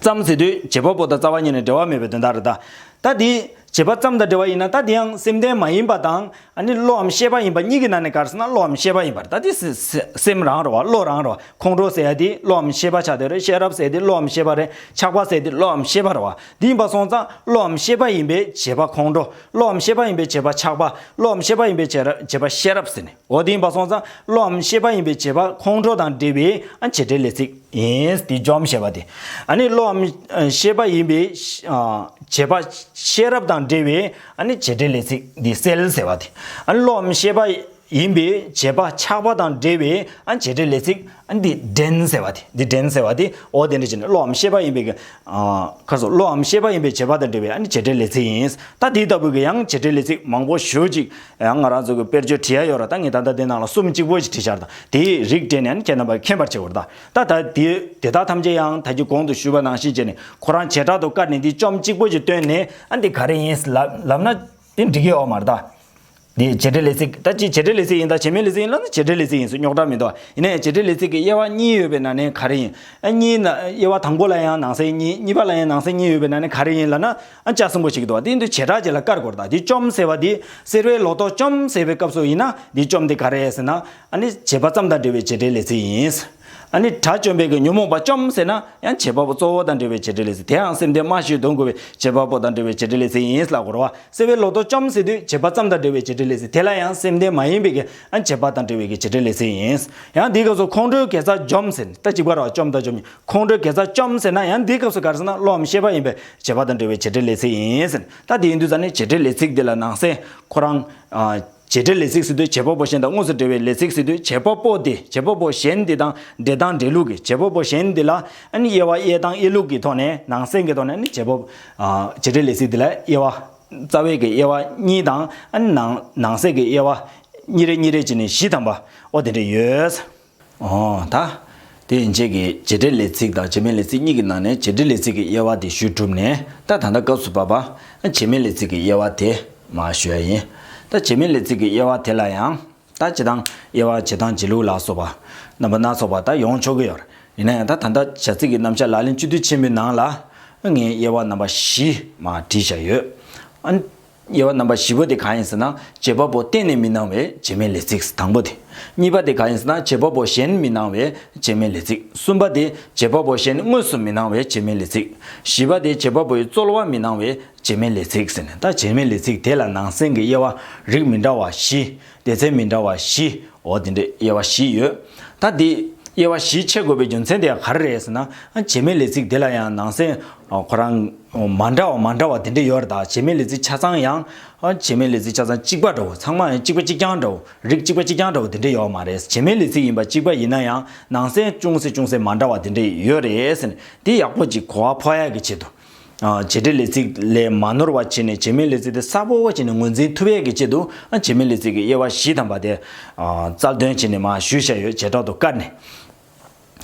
ཙམ་ཟེར་དུས་བྱེད་པ་པོ་དང་རྩ་བ་གཉིས་ནི་འབྲེལ་བ་མེད་པའི་དོན་དག་རེད་ད། ད་དེ། བྱེད་པ་ཙམ་དང་འབྲེལ་བ་ཡིན་ན་ད་དེ་ཡང་སེམས་ལྡན་མ་ཡིན་པ་དང། ནི་བློའམ་ཤེས་པ་ཡིན་པ་གཉིས་ཀྱི་ནང་ནས་གར་སོང་ན་བློའམ་ཤེས་པ་ཡིན་པར་ད་དེ། སེམས་རང་རེད་བ་བློ་རང་རེད་བ་ཁོང་ཁྲོ་ཟེར་ཡ་དེ་བློའམ་ཤེས་པ་ཆགས་དེ་རེད་ཤེས་རབ་ཟེར་དེ་བློའམ་ཤེས་པ་རེད་ཆགས་པ་ཟེར་དེ་བློའམ་ཤེས་པ་རེད་བ་དེ་ཡིན་པ་སོང་ཙང་བློའམ་ཤེས་པ་ཡིན་པས་བྱེད་པ་ཁོང་ཁྲོ་བློའམ་ཤེས་པ་ཡིན་པས་བྱེད་པ་ཆགས་པ་བློའམ་ཤེས་པ་ཡིན་པས་བྱེད་པ་ཤེས་རབ་ཟེར་ནས་འོ་དེ་ཡིན་པ་སོང་ཙང་བློའམ་ཤེས་པ་ཡིན་པས་བྱེད་པ་ཁོང་ཁྲོ་དང་འབྲེལ་བའི་བྱེད་བྲལ་ལས་ཚིག། ཡིན། དེ་འཇོམས་ཞེས་པ་སྟེ། ནི་བློའམ། ཤེས་པ་ཡིན་པས། བྱེད་པ། ཤེས་རབ་དང་འབྲེལ་བའི། ནི་བྱེད་འབྲེལ་ལས་ཚིག་འདི་སེལ་ཟེར་བ་སྟེ། ནི་བློའམ་ཤེས་པ། ཡིན་པས་བྱེད་པ་ཆགས་པ་དང་འབྲེལ་བའི། བྱེད་འབྲེལ་ལས་ཚིག། འདི་འདྲེན་ཟེར་བ་སྟེ། འདི་འདྲེན་ཟེར་བ་སྟེ། འོ་དེ་འདྲ་བྱས་ནས་བློའམ་ཤེས་པ་ཡིན་པའི། ཁ་སོ། བློའམ་ཤེས་པ་ཡིན་པས་བྱེད་པ་དང་འབྲེལ་བའི། བྱེད་འབྲེལ་ལས་ཚིག་ཡིན། ད་དེ་ལྟ་བུ་གི་ཡང་བྱེད་འབྲེལ་ལས་ཚིག་མང་པོ་ཞུ་ཅིག། ཡང་ང་རང་ཚོ་གི་དཔེར་བརྗོད་བྲི་ཡ་ཡོད་ར་ད་ངས་ད་ལྟ་དེ་ནང་ལ་གསུམ་གཅིག་པོ་ཞིག་བྲི་འཆར་ད་དེའི་རིགས་བྲིས་ནས་ཡང་ཁྱེད་རྣམ་པ་མཁྱེན་པར་བྱེད་དགོས་ར་ད་ད་ད་དེ་དེ་དག་ཐམས་ཅད་ཡང་ད་ཁྱི་གོང་དུ་ཞུས་པ་ནང་བཞིན་བྱས་ནས་ཁོ་རང་བྱེ་བྲག་ཏུ་བཀར་ནས་འདི་བཅོམ་གཅིག་པོ་ཞིག་བཏོན་ནས། ཨ་འདི་ག་རེ་ཡིན་ལབ་ན་འདི་འབྲི་གི་ཡོད་མ་རེད་ད། འདི་བྱེ་བྲལ་ལས་ཚིག་ད་ཅི་བྱེ་བྲལ་ལས་ཚིག་ཡིན་ད་བྱེ་མའི་ལས་ཚིག་ཡིན་ལབ་ན་བྱེ་བྲལ་ལས་ཚིག་ཡིན་སུ་རྙོག་དྲ་མི་འདུག་ཨ་ཡིན་ན་བྱེ་བྲལ་ལས་ཚིག་གི་དབྱེ་བ་གཉིས་ཡོད་པའི་ནང་ནས་ག་རེ་ཡིན་ཨ་གཉིས་ན་དབྱེ་བ་དང་པོ་ལ་ཡང་ནང་གསེས་གཉིས་གཉིས་པ་ལ་ཡང་ནང་གསེས་གཉིས་ཡོད་པའི་ནང་ནས་ག་རེ་ཡིན་ལབ་ན་ཨ་ཅག་གསུམ་པོ་ཞིག་འདུག་བ་དེ་འདི་བྱེ་བྲག་ཅིག་ལ་དཀར་གོར་དང་འདི་བཅོམ་ཟེར་བ་འདི་སེར་བའི་ལོ་ཏོག་བཅོམ་ཟེར་བའི་སྐབས་སུ་ཡིན་ན་འདི་བཅོམ་འདི་ག་རེད་ཟེར་ན། ཨ་ནི་བྱེད་པ་ཙམ་དང་འབྲེལ་བའི་བྱེད་འབྲེལ་ལས་ཚིག་ཡིན། ཨ་ནི་དགྲ་བཅོམ་པའི་གི་ཉོན་མོངས་པ་བཅོམ་ཟེར་ན་ཡང་བྱེད་པ་པོ་གཙོ་བོ་དང་འབྲེལ་བའི་བྱེད་འབྲེལ་ལས་ཚིག་དེའང་སེམས་སྡེ་མ་ཞིག་འདུག་གོ་བའི་བྱེད་པ་པོ་དང་འབྲེལ་བའི་བྱེད་འབྲེལ་ལས་ཚིག་ཡིན་ལ་གོར་བ་སེར་བའི་ལོ་ཏོག་བཅོམ་ཟེར་དུས་བྱེད་པ་ཙམ་དང་འབྲེལ་བའི་བྱེད་འབྲེལ་ལས་ཚིག་དེ་ལ་ཡང་སེམས་སྡེ་མ་ཡིན་པའི་གི་ཨ་བྱེད་པ་དང་འབྲེལ་བའི་གི་བྱེད་འབྲེལ་ལས་ཚིག་ཡིན། ཡང་འདིའི་སྐབས་སུ་ཁོང་ཁྲོའི་གེ་སར་འཇོམས་ཟེར་ན་ད་ཅིག་པར་བ་བཅོམ་དང་བཅོམ་གཉིས་ཁོང་ཁྲོའི་གེ་སར་བཅོམ་ཟེར་ན་ཡང་འདིའི་སྐབས་སུ་ག་རེ་ཟེར་ན་བློའམ་ཤེས་པ་ཡིན་པས་བྱེད་པ་དང་འབྲེལ་བའི་བྱེད་འབྲེལ་ལས་ཚིག་ཡིན། ད་དེའི་འདུས་ཚ་ནི་བྱེད་འབྲེལ་ལས་ཚིག་དེ་ལ་ནང་གསེས། ཁོ་རང། བྱེད་འབྲེལ་ལས་ཚིག་སྲིད་དོན་བྱེད་པ་པོ་གཞན་དང་དངོས་སུ་འབྲེལ་བའི་ལས་ཚིག་སྲིད་དོན་བྱེད་པ་པོ་དེ་བྱེད་པ་པོ་གཞན་དེ་དང་འབྲེལ་སྟངས་འབྲེལ་ལུགས་ཀྱི་བྱེད་པ་པོ་གཞན་དེ་ལ། དབྱེ་བ་དབྱེ་སྟངས་དབྱེ་ལུགས་ཀྱི་ཐོག་ནས་ནང་གསེས་ཀྱི་ཐོག་ནས་ནི་བྱེད་པ། བྱེད་འབྲེལ་ལས་ཚིག་དེ་ལ་དབྱེ་བ། རྩ་བའི་གི་དབྱེ་བ་གཉིས་དང། ནང་གསེས་ཀྱི་དབྱེ་བ། གཉིས་རེ་གཉིས་རེ་བྱས་ནས་བཞི་ཐམ་པ། ཨོ་དེ་འདྲ་ཡོད། ད་དེའི་རྗེས་ཀྱི་བྱེད་འབྲེལ་ལས་ཚིག་དང་བྱེད་མིན་ལས་ཚིག་གཉིས་ཀྱི་ནང་ནས་བྱེད་འབྲེལ་ལས་ཚིག་གི་དབྱེ་བ་དེ་ཞུས་གྲུབ་ནས་ད་ད་ལྟ་སྐབས་སུ་བབས་པ། བྱེད་མིན་ལས་ཚིག་གི་དབྱེ་བ་དེ་མ་ཞུ་ཡ་ཡིན། ད་བྱེད་མིན་ལས་ཚིག་གི་དབྱེ་བ་དེ་ལ་ཡང། ད་བྱེད་དང་དབྱེ་བ་བྱེད་དང་བྱེད་ལུགས་ལ་སོགས་པ། རྣམ་པ་སྣ་ཚོགས་པ་ད་ཡོང་ཆོག་གི་ཡོད། ཡིན་ན་ཡང་ད་ད་ལྟ་བྱ་ཚིག་གི་རྣམ་བཞག་ལག་ལེན་བཅུ་དུས་ཆེན་པོའི་ནང་ལ། ངས་དབྱེ་བ་རྣམ་པ་བཞི་མ་བྲིས་བཞག་ཡོད། དབྱེ་བ་རྣམ་པ་བཞི་པོ་དེ་གང་ཡིན་ཟེར་ན་བྱེད་པ་པོ་གཏན་ནས་མི་སྣང་བས་བྱེ་མའི་ལས་ཚིགས་དང་པོ་དེ། གཉིས་པ་དེ་གང་ཡིན་ཟེར་ན་བྱེད་པ་པོ་གཞན་མི་སྣང་བས་བྱེ་མའི་ལས་ཚིགས་གསུམ་པ་དེ་བྱེད་པ་པོ་གཞན་དངོས་སུ་མི་སྣང་བས་བྱེ་མའི་ལས་ཚིགས་བཞི་པ་དེ་བྱེད་པ་པོའི་རྩོལ་བ་མི་སྣང་བས་བྱེ་མའི་ལས་ཚིགས་ཟེར། ད་བྱེ་མའི་ལས་ཚིགས་དེ་ལ་ནང་གསེང་གི་དབྱེ་བ་རིགས་མི་འདྲ་བ་བཞི་སྡེ་ཚན་མི་འདྲ་བ་བཞི། འོ་དེ་འདྲའི་དབྱེ་བ་བཞི་ཡོད། ད་དེ། དབྱེ་བ་བཞི་ཕྱེ་དགོས་པའི་རྒྱུ་མཚན་དེ་ག་རེ་རེད་ཟེར་ན། བྱེ་མའི་ལས་ཚིག་དེ་ལ་ཡང་ནང་གསེས། ཁོ་རང། མ་འདྲ་བ་མ་འདྲ་བ་དེ་འདྲ་ཡོད་རེད་ད་བྱེ་མའི་ལས་ཚིག་ཆ་ཚང་ཡང། བྱེ་མའི་ལས་ཚིག་ཆ་ཚང་གཅིག་པ་འདྲ་བོ་ཚང་མ་ཡང་གཅིག་པ་གཅིག་རྐྱང་འདྲ་བོ་རིགས་གཅིག་པ་གཅིག་རྐྱང་འདྲ་བོ་དེ་འདྲ་ཡོད་མ་རེད་བྱེ་མའི་ལས་ཚིག་ཡིན་པ་གཅིག་པ་ཡིན་ན་ཡང་ནང་གསེས་ཅུང་ཟད་ཅུང་ཟད་མ་འདྲ་བ་དེ་འདྲ་ཡོད་རེད་ཟེར་ནས་དེ་ཡག་པོ་ཅིག་གོ་བ་ཕོག་ཡ་གི་ཆེད་དུ། བྱེད་སྒྲའི་ལས་ཚིག་ལས་མ་ནོར་བ་བྱས་ནས་བྱེ་སྨྲའི་ལས་ཚིག་དེ་གསལ་པོ་བྱས་ནས་ངོས་འཛིན་ཐུབ་ཡས་ཀྱི་ཆེད་དུ་བྱེ་སྨྲའི་ལས་ཚིག་གི་དབྱེ་བ་བཞི་དམ་པ་དེ་རྩལ་འདོན་བྱས་ནས་མ་ཞུ་བྱས་ཡོད་བྱེ་བྲག་ཏུ་བཀར་ནས།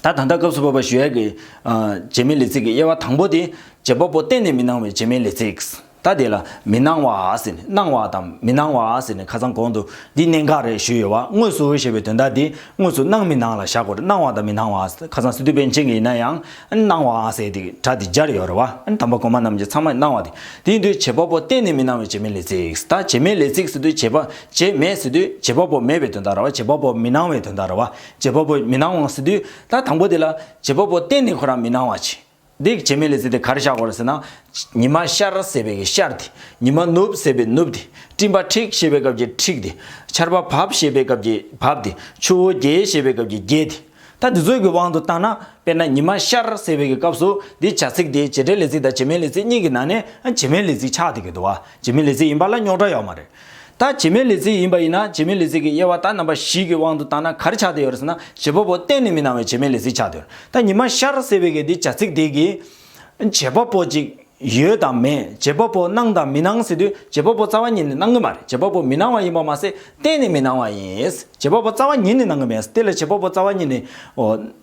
ད་ད་ལྟ་སྐབས་སུ་བབ་པ་ཞུ་ཡས་ཀྱི་བྱེ་སྨྲའི་ལས་ཚིག་གི་དབྱེ་བ་དང་པོ་དེ་བྱེད་པ་པོ་གཏན་ནས་མི་སྣང་བའི་བྱེ་སྨྲའི་ལས་ཚིག་ད་དེ་ལ་མི་སྣང་བ་ཟེར་ནས་སྣང་བ་དང་མི་སྣང་བ་ཟེར་ནས་ཁ་སང་གོང་དུ་འདི་གནད་འགག་རེད་ཞུས་ཡོད་བ་དངོས་སུ་ཞེས་པའི་དོན་དག་འདི་དངོས་སུ་སྣང་མི་སྣང་ལ་བཞག་གོ་དངོས་སྣང་བ་དང་མི་སྣང་བ་ཁ་སང་སི་ཏུ་པཎ་ཆེན་གྱིས་ཡིན་ན་ཡང་སྣང་བའང་གསལ་ཏེ་གྲགས་ཏེ་སྦྱར་ཡོད་རེད་བ། དམ་པ་གོང་མ་རྣམས་ཀྱི་ཚང་མའི་སྣང་བ་དེ། དེ་ཡིན་དུས་བྱེད་པ་པོ་གཏན་ནས་མི་སྣང་བའི་བྱེད་མེད་ལས་ཚིག་དང་བྱེད་མེད་ལས་ཚིག་ཟེར་དུས་བྱེད་པ། བྱེད་མེད་ཟེར་དུས་བྱེད་པ་པོ་མེད་པའི་དོན་དང་ར་བ་བྱེད་པ་པོ་མི་སྣང་བའི་དོན་དང་ར་བ། བྱེད་པ་པོ་མི་སྣང་བའང་ཟེར་དུས་ད་དང་པོ་དེ་ལ། བྱེད་པ་པོ་གཏན་ནས་ཁོ་རང་མི་སྣང་བ། བྱེད་དེ་བྱེད་མེད་ལས་ཚིག་དེ་གར་བཞག་གོ་ཟེར་ན། ཉི་མ་ཤར་ཟེར་བའི་ཤར་དེ། ཉི་མ་ནུབ་ཟེར་བའི་ནུབ་དེ། སྤྲིན་པ་འཁྲིགས་ཞེས་པའི་སྐབས་ཀྱི་འཁྲིགས་དེ། ཆར་པ་བབས་ཞེས་པའི་སྐབས་ཀྱི་བབས་དེ། ཆུ་བོ་རྒྱས་ཞེས་པའི་སྐབས་ཀྱི་རྒྱས་དེ། ཐ་དི་ཚོད་ཀྱི་དབང་དུ་བཏང་ན། དཔེར་ན་ཉི་མ་ཤར་ཟེར་བའི་གི་སྐབས་སུ་འདིའི་བྱ་ཚིག་དེ་བྱེད་སྒྲའི་ལས་ཚིག་དང་བྱེད་མའི་ལས་ཚིག་གཉིས་ཀྱི་ནང་ནས་བྱེད་མའི་ལས་ཚིག་ཆགས་ཏེ་གི་འདུག་བ་བྱེད་མའི་ལས་ཚིག་ཡིན་པ་ལ་རྙོག་དྲ་ཡོད་མ་རེད། ད་བྱེད་མའི་ལས་ཚིག་ཡིན་པ་ཡིན་ན་བྱེད་མའི་ལས་ཚིག་གི་དབྱེ་བ་ད་རྣམ་པ་བཞི་གི་དབང་དུ་བཏང་ན་ག་རེ་ཆགས་ཏེ་ཡོད་རེད་ཟེར་ན་བྱེད་པ་པོ་གཏན་ནས་མི་སྣང་བའི་བྱེད་མའི་ལས་ཚིག་ཆགས་ཏེ་ཡོད་རེད་ད་ཉི་མ་ཤར་ཟེར་བའི་གི་འདིའི་བྱ་ཚིག་དེ་གི། བྱེད་པ་པོ་གཅིག། ཡོད་དམ་མེད་རྗེས་དཔོག་པོ་སྣང་དང་མི་སྣང་ཟེར་དུས་རྗེས་དཔོག་པོ་རྩ་བ་ཉིད་ནས་སྣང་གི་མ་རེད་རྗེས་དཔོག་པོ་མི་སྣང་བ་ཡིན་པར་མ་ཟད་གཏན་ནས་མི་སྣང་བ་ཡིན། རྗེས་དཔོག་པོ་རྩ་བ་ཉིད་ནས་སྣང་གི་མེད་ཟེར་དེ་ལ་རྗེས་དཔོག་པོ་རྩ་བ་ཉིད་ནས།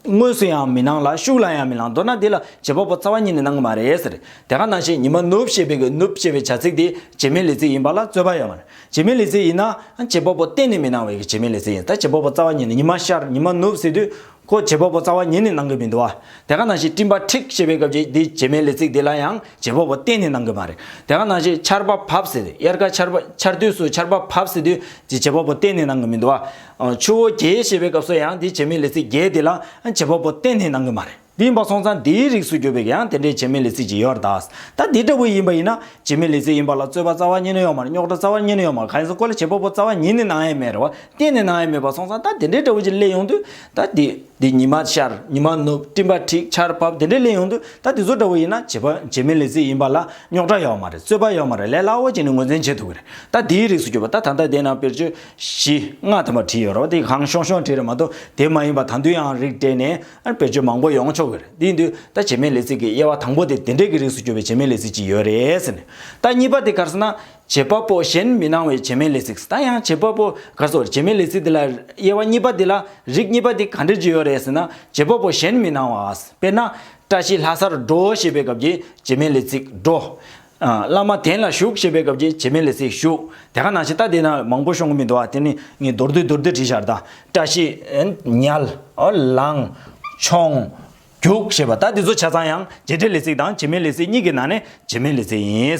དངོས་སུ་ཡང་མི་སྣང་ལ་ཤུགས་ལ་ཡང་མི་སྣང་མདོར་ན་འདི་ལ་རྗེས་དཔོག་པོ་རྩ་བ་ཉིད་ནས་སྣང་གི་མ་རེད་ཟེར། དེ་ག་ནང་བཞིན་ཉི་མ་ནུབ་ཞེས་པའི་གི་ནུབ་ཅེས་པའི་བྱ་ཚིག་དེ་རྗེས་མའི་ལས་ཚིག་ཡིན་པ་ལ་རྩོད་པ་ཡོད་མ་རེད། རྗེས་མའི་ལས་ཚིག་ཡིན་ན། རྗེས་དཔོག་པོ་གཏན་ནས་མི་སྣང་བའི་གི་རྗེས་མའི་ལས་ཚིག་ཡིན་ད་རྗེས་དཔོག་པོ་རྩ་བ་ཉིད་ནས་ཉི་མ་ཤར་ཉི་མ་ནུབ་ཟེར་དུས། ཁོ་བྱེད་པོ་པོ་རྩ་བ་ཉིད་ནས་གནང་གི་མི་འདུག་བ། དེ་ག་ནང་ཞིག་སྤྲིན་པ་འཁྲིགས་ཞེས་པའི་སྐབས་ཀྱི་འདི་བྱེད་མའི་ལས་ཚིག་འདི་ལ་ཡང་བྱེད་པོ་པོ་གཏན་ནས་གནང་གི་མ་རེད། དེ་ག་ནང་ཞིག་ཆར་པ་བབས་ཟེར་དབྱར་ཁ་ཆར་པ་ཆར་དུས་སུ་ཆར་པ་བབས་ཟེར་དུས་ཀྱི་བྱེད་པོ་པོ་གཏན་ནས་གནང་གི་མི་འདུག་བ། ཆུ་བོ་རྒྱལ་ཞེས་པའི་སྐབས་སུ་ཡང་འདི་བྱེད་མའི་ལས་ཚིག་རྒྱལ་འདི་ལ་ཡང་བྱེད་པོ་པོ་གཏན་ནས་གནང་གི་མ་རེད། འདི་ཡིན་པ་སོང་ཙང་འདིའི་རིགས་སུ་གྱུར་པའི་ཡང་དེ་འདྲའི་བྱེད་མའི་ལས་ཚིག་ཅིག་ཡོད་ར་དྭགས། ད་འདི་འདྲ་བུ་ཡིན་པ་ཡིན་ན་བྱེད་མའི་ལས་ཚིག་ཡིན་པ་ལ་རྩོད་པ་རྩ་བ་ཉིད་ནས་ཡོང་མར་རྙོག་དྲ་རྩ་བ་ཉིད་ནས་ཡོང་མར་ག་ཡིན་ཟེར་ཀོ་ལ་བྱེད་པོ་པོ་རྩ་བ་ཉིད་ནས་གནང་ཡས་མེད་རེད་བ། གཏན་ནས་ནང་ཡ་མེད་པར་སོང་ཙང་ད་དེ་འདྲའི་དགྲ་བོ་ཅིག་སླེབས་ཡོང་དུས་ད་དེ་དེ་ཉི་མ་ཤར་ཉི་མ་ནུབ་སྤྲིན་པ་འཁྲིགས་ཆར་བབས་དེ་འདྲས་སླེབས་ཡོང་དུས་ད་དེ་ཚོ་དགྲ་བོ་ཡིན་ན་བྱེད་པ་བྱེད་མི་ལས་རྩིས་ཡིན་པ་ལ་རྙོག་དྲ་ཡོད་མ་རེད་རྩོད་པ་ཡོད་མ་རེད་ལས་སླ་བོ་ཅིག་ནས་ངོས་འཛིན་བྱེད་ཐུབ་ཀྱི་རེད་ད་དེའི་རིགས་སུ་གྱུར་པ་ད་ད་ལྟ་དེ་ན་དཔེར་བརྗོད་བཞི་ལྔ་དམ་པ་བྲིས་ཡོད་རོགས་དེ་གང་ཤོང་ཤོང་བྲིས་རེད་མ་གཏོགས་དེ་མ་ཡིན་པ་ད་དུང་ཡང་རིགས་སྤྲད་ནས་དཔེར་བརྗོད་མང་པོ་ཡོང་ཆོག་གི་རེད་དེ་དུས་ད་བྱེད་མི་ལས་རྩིས་ཀྱི་དབྱེ་བ་དང་པོ་དེ་དེ་འདྲས་ཀྱི་རིགས་སུ་གྱུར་པའི་བྱེད་མི་ལས་རྩིས་ཅིག་ཡོད་རེད་ཟེར་ནས་ད་གཉིས་པ་དེ་གར་སོང་ན་བྱེད་པ་པོ་གཞན་མི་སྣང་བའི་བྱེ་སྨྲའི་ལས་ཚིག་ད་ཡང་བྱེད་པ་པོ་ག་སོགས་བྱེ་སྨྲའི་ལས་ཚིག་འདི་ལ་དབྱེ་བ་གཉིས་པ་འདི་ལ་རིགས་གཉིས་པ་འདི་ག་འབྲེལ་གྱི་ཡོད་རེད་ཟེར་ན་བྱེད་པ་པོ་གཞན་མི་སྣང་བ་དཔེར་ན། བཀྲ་ཤིས་ལྷ་སར་འགྲོ་ཞེས་པའི་སྐབས་ཀྱི་བྱེ་སྨྲའི་ལས་ཚིག་འགྲོ། བླ་མ་དན་ལ་ཞུགས་ཞེས་པའི་སྐབས་ཀྱི་བྱེ་སྨྲའི་ལས་ཚིག་ཞུགས་དེ་ག་ནང་བཞིན་ལྟ་དེས་ན་མང་པོ་ཤོང་གི་མི་འདུག་ཨ་དེ་ནི་ངས་མདོར་བསྡུས་མདོར་བསྡུས་བྲིས་ཤག་ད་བཀྲ་ཤིས། ཉལ། ལངས། མཆོང། རྒྱུགས་ཞེས་པ་ད་འདི་ཚོ་ཆ་ཚང་ཡང་བྱེད་འབྲེལ་ལས་ཚིག་དང་བྱེད་མིན་ལས་ཚིག་གཉིས་ཀྱི་ནང་ནས་བྱེད་མིན་ལས་ཚིག་ཡིན།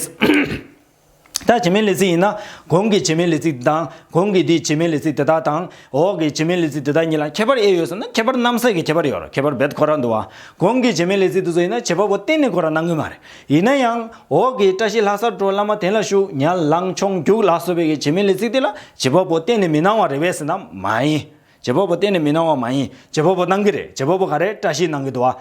ད་བྱེད་མིན་ལས་ཚིག་ཡིན་ན་གོང་གི་བྱེད་མིན་ལས་ཚིག་འདི་དང་གོང་གི་འདིའི་བྱེད་མིན་ལས་ཚིག་དེ་དག་དང། འོག་གི་བྱེད་མིན་ལས་ཚིག་དེ་དག་གཉིས་ལ་ཁྱད་པར་དབྱེ་ཡོད་ཟེར་ན་ཁྱད་པར་རྣམ་གསལ་གྱི་ཁྱད་པར་ཡོད་རུང་ཁྱད་པར་རྦད་དུ་གོ་རག་འདུག་ཨང། གོང་གི་བྱེད་མིན་ལས་ཚིག་འདི་ཚོ་ཡིན་ན་བྱེད་པ་པོ་གཏན་ནས་གོ་རག་གནང་གི་མ་རེད། ཡིན་ན་ཡང། འོག་གི་བཀྲ་ཤིས་ལྷ་སར་འགྲོ་བླ་མ་དེང་ལ་བཞུགས་ཉལ་ལངས་མཆོང་རྒྱུགས་ལ་སོགས་པའི་གི་བྱེད་མིན་ལས་ཚིག་དེ་ལ་བྱེད་པ་པོ་གཏན་ནས་མི་སྣང་བ་རེད་བས་ཟེར་ན་མ་ཡིན། རྗེ་བོ་པོ་གཏན་ནས་མི་གནང་བ་མ་ཡིན། རྗེ་བོ་པོ་གནང་གི་རེད་རྗེ་བོ་པོ་ག་རེ་བཀྲ་ཤིས་གནང་གི་འདུག་ཨ།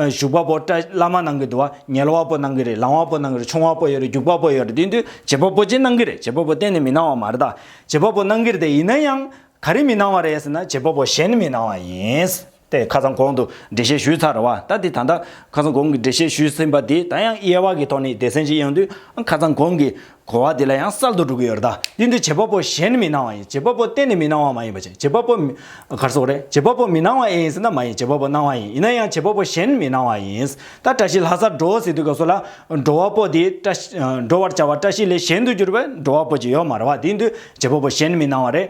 བཞུགས་པ་པོ་བཀྲ་བླ་མ་གནང་གི་འདུག་ཨ་ཉལ་བ་པོ་གནང་གི་རེད་ལང་བ་པོ་གནང་གི་རེད་ཆུང་བ་པོ་ཡོད་རེད་རྒྱུག་པ་པོ་ཡོད་རེད་དེ་དུས་རྗེ་བོ་པོ་གཅིག་གནང་གི་རེད་རྗེ་བོ་པོ་གཏན་ནས་མི་གནང་བ་མ་རེད་ད། རྗེ་བོ་པོ་གནང་གི་རེད་དེ་ཡིན་ན་ཡང། ག་རེ་མི་གནང་བ་རེད་ཟེར་ན་རྗེ་བོ་པོ་གཞན་མི་གནང་བ་ཡིན། ཏེ་ཁ་སང་གོང་དུ་འགྲེལ་བཤད་ཞུས་ཚར་རེད་བ་ད་དེ་ད་ལྟ་ཁ་སང་གོང་གི་འགྲེལ་བཤད་ཞུས་ཟིན་པ་དེ་ད་ཡང་དབྱེ་བ་གི་ཐོག་ནས་སྡེ་ཚན་གཅིག་ཡོང་དུས་ཨ་ཁ་སང་གོང་གི་གོ་བ་དེ་ལ་ཡང་གསར་དུ་སྒྲུབ་ཀྱི་ཡོད་རེད་ད། དེ་འདྲའི་བྱེད་པ་པོ་གཞན་མི་སྣང་བ་ཡིན། བྱེད་པ་པོ་གཏན་ནས་མི་སྣང་བ་མ་ཡིན་པ་ཅན། བྱེད་པ་པོ། གར་སོང་རེད། བྱེད་པ་པོ་མི་སྣང་བ་ཨེ་ཡིན་ཟེར་ན་མ་ཡིན་བྱེད་པ་པོ་སྣང་བ་ཡིན། ཡིན་ན་ཡང་བྱེད་པ་པོ་གཞན་མི་སྣང་བ་ཡིན། ད་བཀྲ་ཤིས་ལྷ་སར་འགྲོ་ཟེར་དུས་སྐབས་སུ་ལ། འགྲོ་བ་པོ་དེ་བཀྲ། འགྲོ་བར་བྱ་བ་བཀྲ་ཤིས་ལས་གཞན་དུ་གྱུར་པས་འགྲོ་བ་པོ་ཅིག་ཡོད་མ་རེད་བ། དེ་དུས་བྱེད་པ་པོ་གཞན་མི་སྣང་བ་རེད།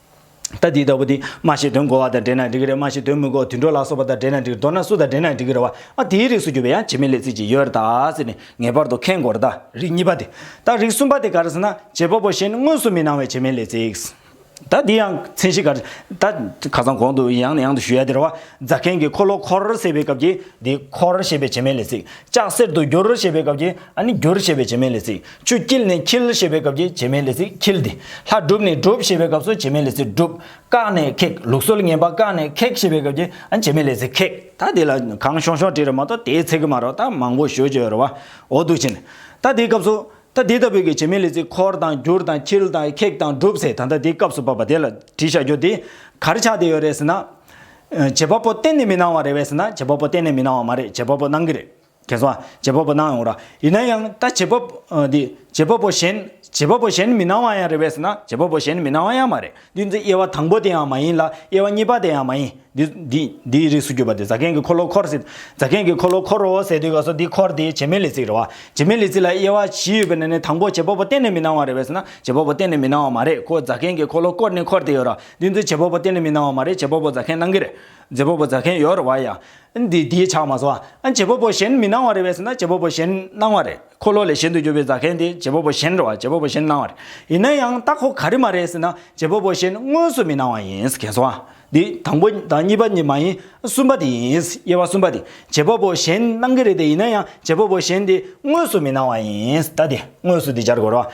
ལྟ་འདི་ལྟ་བུ་འདི་སྨྲ་ཞིག་དོན་གོ་བ་དང་འབྲེལ་ན་འགྲིག་གི་རེད་སྨྲ་ཞིག་དོན་མི་གོ་དུད་འགྲོ་ལ་སོགས་པ་དང་འབྲེལ་ན་འགྲིག་མདོར་ན་སུ་དང་འབྲེལ་ན་འགྲིག་གི་རེད་བ་ཨ་དེའི་རིགས་སུ་གྱུར་པའི་ཡང་བྱེད་མེད་ལས་ཚིག་ཅིག་ཡོད་རེད་དཱ་ཟེར་ནས་ངེས་པར་དུ་ཁེངས་དགོས་རེད་དཱ། རིགས་གཉིས་པ་དེ། ད་རིགས་གསུམ་པ་དེ་ག་རེ་ཟེར་ན། བྱེད་པ་པོ་གཞན་དངོས་སུ་མི་སྣང་བའི་བྱེད་མེད་ལས་ཚིག། ད་འདི་ཡང་མཚན་གཞི་ག་རེ། ད་ཁ་སང་གོང་དུ་ཡང་ནས་ཡང་དུ་ཞུ་ཡ་དེ་རེད་བ། རྫ་མཁན་གྱི་འཁོར་ལོ་འཁོར་ཟེར་བའི་སྐབས་ཀྱི་འདི་འཁོར་ཞེས་པའི་བྱེད་མེད་ལས་ཚིག། ལྕགས་གསེར་དུ་བསྒྱུར་ཞེས་པའི་སྐབས་ཀྱི་ཨ་ནི་བསྒྱུར་ཞེས་པའི་བྱེད་མེད་ལས་ཚིག། ཆུ་སྐྱིལ་ནས་འཁྱིལ་ཞེས་པའི་སྐབས་ཀྱི་བྱེ་མའི་ལས་ཚིག་འཁྱིལ་ཏེ། ལྷ་སྒྲུབ་ནས་སྒྲུབ་ཞེས་པའི་སྐབས་སུ་བྱེ་མའི་ལས་ཚིག་སྒྲུབ། བཀག་ནས་ཁེགས་ལུགས་སྲོལ་ངན་པ་བཀག་ནས་ཁེགས་ཞེས་པའི་སྐབས་ཀྱི་བྱེ་མའི་ལས་ཚིག་ཁེགས། ད་འདི་ལ་གང་ཤོང་ཤོང་བྲིས་རེད་མ་གཏོགས་དེའི་ཚིག་གི་མ་རོགས་ད་མང་པོ་ཞུ་ཅོ་རེད་བ་འོ་འདུག་ཕྱིན། ད་འདིའི་སྐབས་སུ། ད་འདི་ལྟ་བུའི་ཀྱི་བྱེ་མའི་ལས་ཚིག་འཁོར་དང་བསྒྱུར་དང་འཁྱིལ་དང་ཁེགས་དང་སྒྲུབ་ཚེ་ད་ལྟ་འདིའི་སྐབས་སུ་བབས་པ་དེ་ལ་བྲིས་བཞག་རྒྱུ་འདི་གར་ཆགས་བསྡད་ཡོད་རེད་ཟེར་ན། བྱེད་པ་པོ་གཏན་ནས་མི་སྣང་བ་རེད་བས་ཟེར་ན་བྱེད་པ་པོ་གཏན་ནས་མི་སྣང་བ་མ་རེད་བྱེད་པ་པོ་སྣང་གི་རེད། རྒྱལ་བ་བྱེད་པ་པོ་གནང་ཡོང་ར། ཡིན་ན་ཡང་ད་བྱེད་པ། འདི། བྱེད་པ་པོ་གཞན། བྱེད་པ་པོ་གཞན་མི་གནང་བ་ཡང་རེད་བས་ན་བྱེད་པ་པོ་གཞན་མི་གནང་བ་ཡང་མ་རེད་འདི་འཛི་དབྱེ་བ་དང་པོ་དེ་ཡང་མ་ཡིན་ལ་དབྱེ་བ་གཉིས་པ་དེ་ཡང་མ་ཡིན། འདི། འདི། འདིའི་རིགས་སུ་གྱུར་པ་དེ་ཛག་གན་གི་འཁོར་ལོ་འཁོར་ཟེར། ཛག་གན་གི་འཁོར་ལོ་འཁོར་རོ་ཟེར་དུས་ག་སོ་འདི་འཁོར་དེ་བྱེ་མའི་ལས་ཚིག་རེད་བ། བྱེ་མའི་ལས་ཚིག་ལ་དབྱེ་བ་བཞི་ཡོད་པས་ན་ནི་དང་པོ་བྱེད་པ་པོ་གཏན་ནས་མི་གནང་བ་རེད་བས་ན་བྱེད་པ་པོ་གཏན་ནས་མི་གནང་བ་མ་རེད་ཁོ་ཛག་གན་གི་འཁོར་ལོ་བསྐོར་ནས་འཁོར་དེ་ཡོད་ར་འདི་འཛི་བྱེད་པ་པོ་གཏན་ནས་མི་གནང་བ་མ་རེད་བྱེད་པ་པོ་ཛག་གན་གནང་གི་རེད། རྗེ་བོ་པོ་རྫ་མཁན་ཡོད་རེད་བ་ཡ། འདི་དེའི་ཆ་མ་ཟོ། རྗེ་བོ་པོ་གཞན་མི་སྣང་བ་རེད་བས་ཟེར་ན་རྗེ་བོ་པོ་གཞན་སྣང་བ་རེད། འཁོར་ལོ་ལས་གཞན་དུ་གྱུར་པའི་རྫ་མཁན་དེ་རྗེ་བོ་པོ་གཞན་རེད་བ་རྗེ་བོ་པོ་གཞན་སྣང་བ་རེད། ཡིན་ན་ཡང་ད་ཁོ་ག་རེ་མ་རེད་ཟེར་ན་རྗེ་བོ་པོ་གཞན་དངོས་སུ་མི་སྣང་བ་ཡིན་གལ་སོང་བ། འདི་དང་པོ་དང་གཉིས་པ་ནི་མ་ཡིན་གསུམ་པ་དེ་ཡིན་དབྱེ་བ་གསུམ་པ་དེ་རྗེ་བོ་པོ་གཞན་སྣང་གི་རེད་དེ་ཡིན་ན་ཡང་རྗེ་བོ་པོ་གཞན་དེ་དངོས་སུ་མི་སྣང་བ་ཡིན་ད་དེ་དངོས་སུ་དེ་སྦྱར་དགོས་རེད་བ།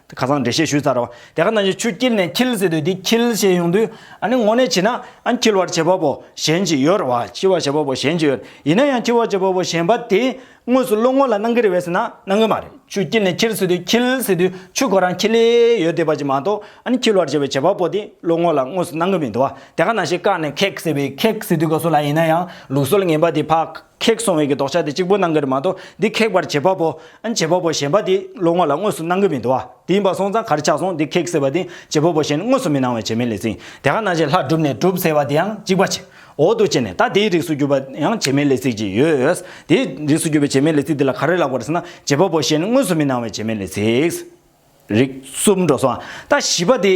ཁ་སང་འགྲེལ་བཤད་ཞུས་ཚར་བ་དེ་ག་ན་ཡོད་ཆུ་དཀྱིལ་ནས་འཁྱིལ་ཟེར་དུས་དེ་འཁྱིལ་ཞེས་ཡོང་དུས་ཨ་ནི་དངོས་གནས་བྱས་ན་ཨ་འཁྱིལ་བར་བྱེད་པ་པོ་གཞན་ཅིག་ཡོད་རེད་བ་འཁྱིལ་བར་བྱེད་པ་པོ་གཞན་ཅིག་ཡོད་རེད་ཡིན་ན་ཡང་འཁྱིལ་བར་བྱེད་པ་པོ་གཞན་པ་དེ་དངོས་སུ་བློ་ངོ་ལ་སྣང་གི་རེད་བས་ཟེར་ན་སྣང་གི་མ་རེད་ཆུ་དཀྱིལ་ནས་འཁྱིལ་ཟེར་དུས་འཁྱིལ་ཟེར་དུས་ཆུ་ཁོ་རང་འཁྱིལ་ལེ་ཡོད་བསྡད་པ་ཅིག་མ་གཏོགས་ཨ་ནི་འཁྱིལ་བར་བྱེད་པའི་བྱེད་པ་པོ་དེ་བློ་ངོ་ལ་དངོས་སུ་སྣང་གི་མི་འདུག་བ་དེ་ག་ན་ཞིག་བཀག་ནས་ཁེགས་ཟེར་བའི་ཁེགས་ཟེར་དུས་ག་སུ་ལ་ཡིན་ན་ཡང་ལུགས་སྲོལ་ངན་པ་དེ་ཕག་ཁེགས་སོང་བས་ཀྱི་ལྡོག་ཆ་དེ་གཅིག་པོ་སྣང་གི་རེད་མ་གཏོགས་འདི་ཁེགས་པར་བྱེད་པ་པོ། བྱེད་པ་པོ་གཞན་པ་དེ་བློ་ངོ་ལ་དངོས་སུ་སྣང་གི་མི་འདུག་བ། དེ་ཡིན་པ་སོང་ཙང་གར་ཆག་སོང་འདི་ཁེགས་ཟེར་བ་དེ་བྱེད་པ་པོ་གཞན་དངོས་སུ་མི་སྣང་བས་བྱེད་མེད་ལས་ཟིན། དེ་ག་ན་བྱེད་ལྷག་གྲུབ་ནས་གྲུབ་ཟེར་བ་དེ་ཡང་གཅིག་པ་བྱེད། འོག་ཏུ་བྱེད་ནས་ད་དེའི་རིགས་སུ་གྱུར་པ་ཡང་བྱེད་མེད་ལས་ཚིག་ཅིག་ཡོད། དེའི་རིགས་སུ་གྱུར་པའི་བྱེད་མེད་ལས་ཚིག་དེ་ལ་ག་རེ་ལབ་དགོས་ཟེར་ན་བྱེད་པ་པོ་གཞན་དངོས་སུ་མི་སྣང་བས་བྱེད་མེད་ལས་ཚིག། རིགས་གསུམ་འགྲོ་སོང་རྟ་བཞི་པ་དེ།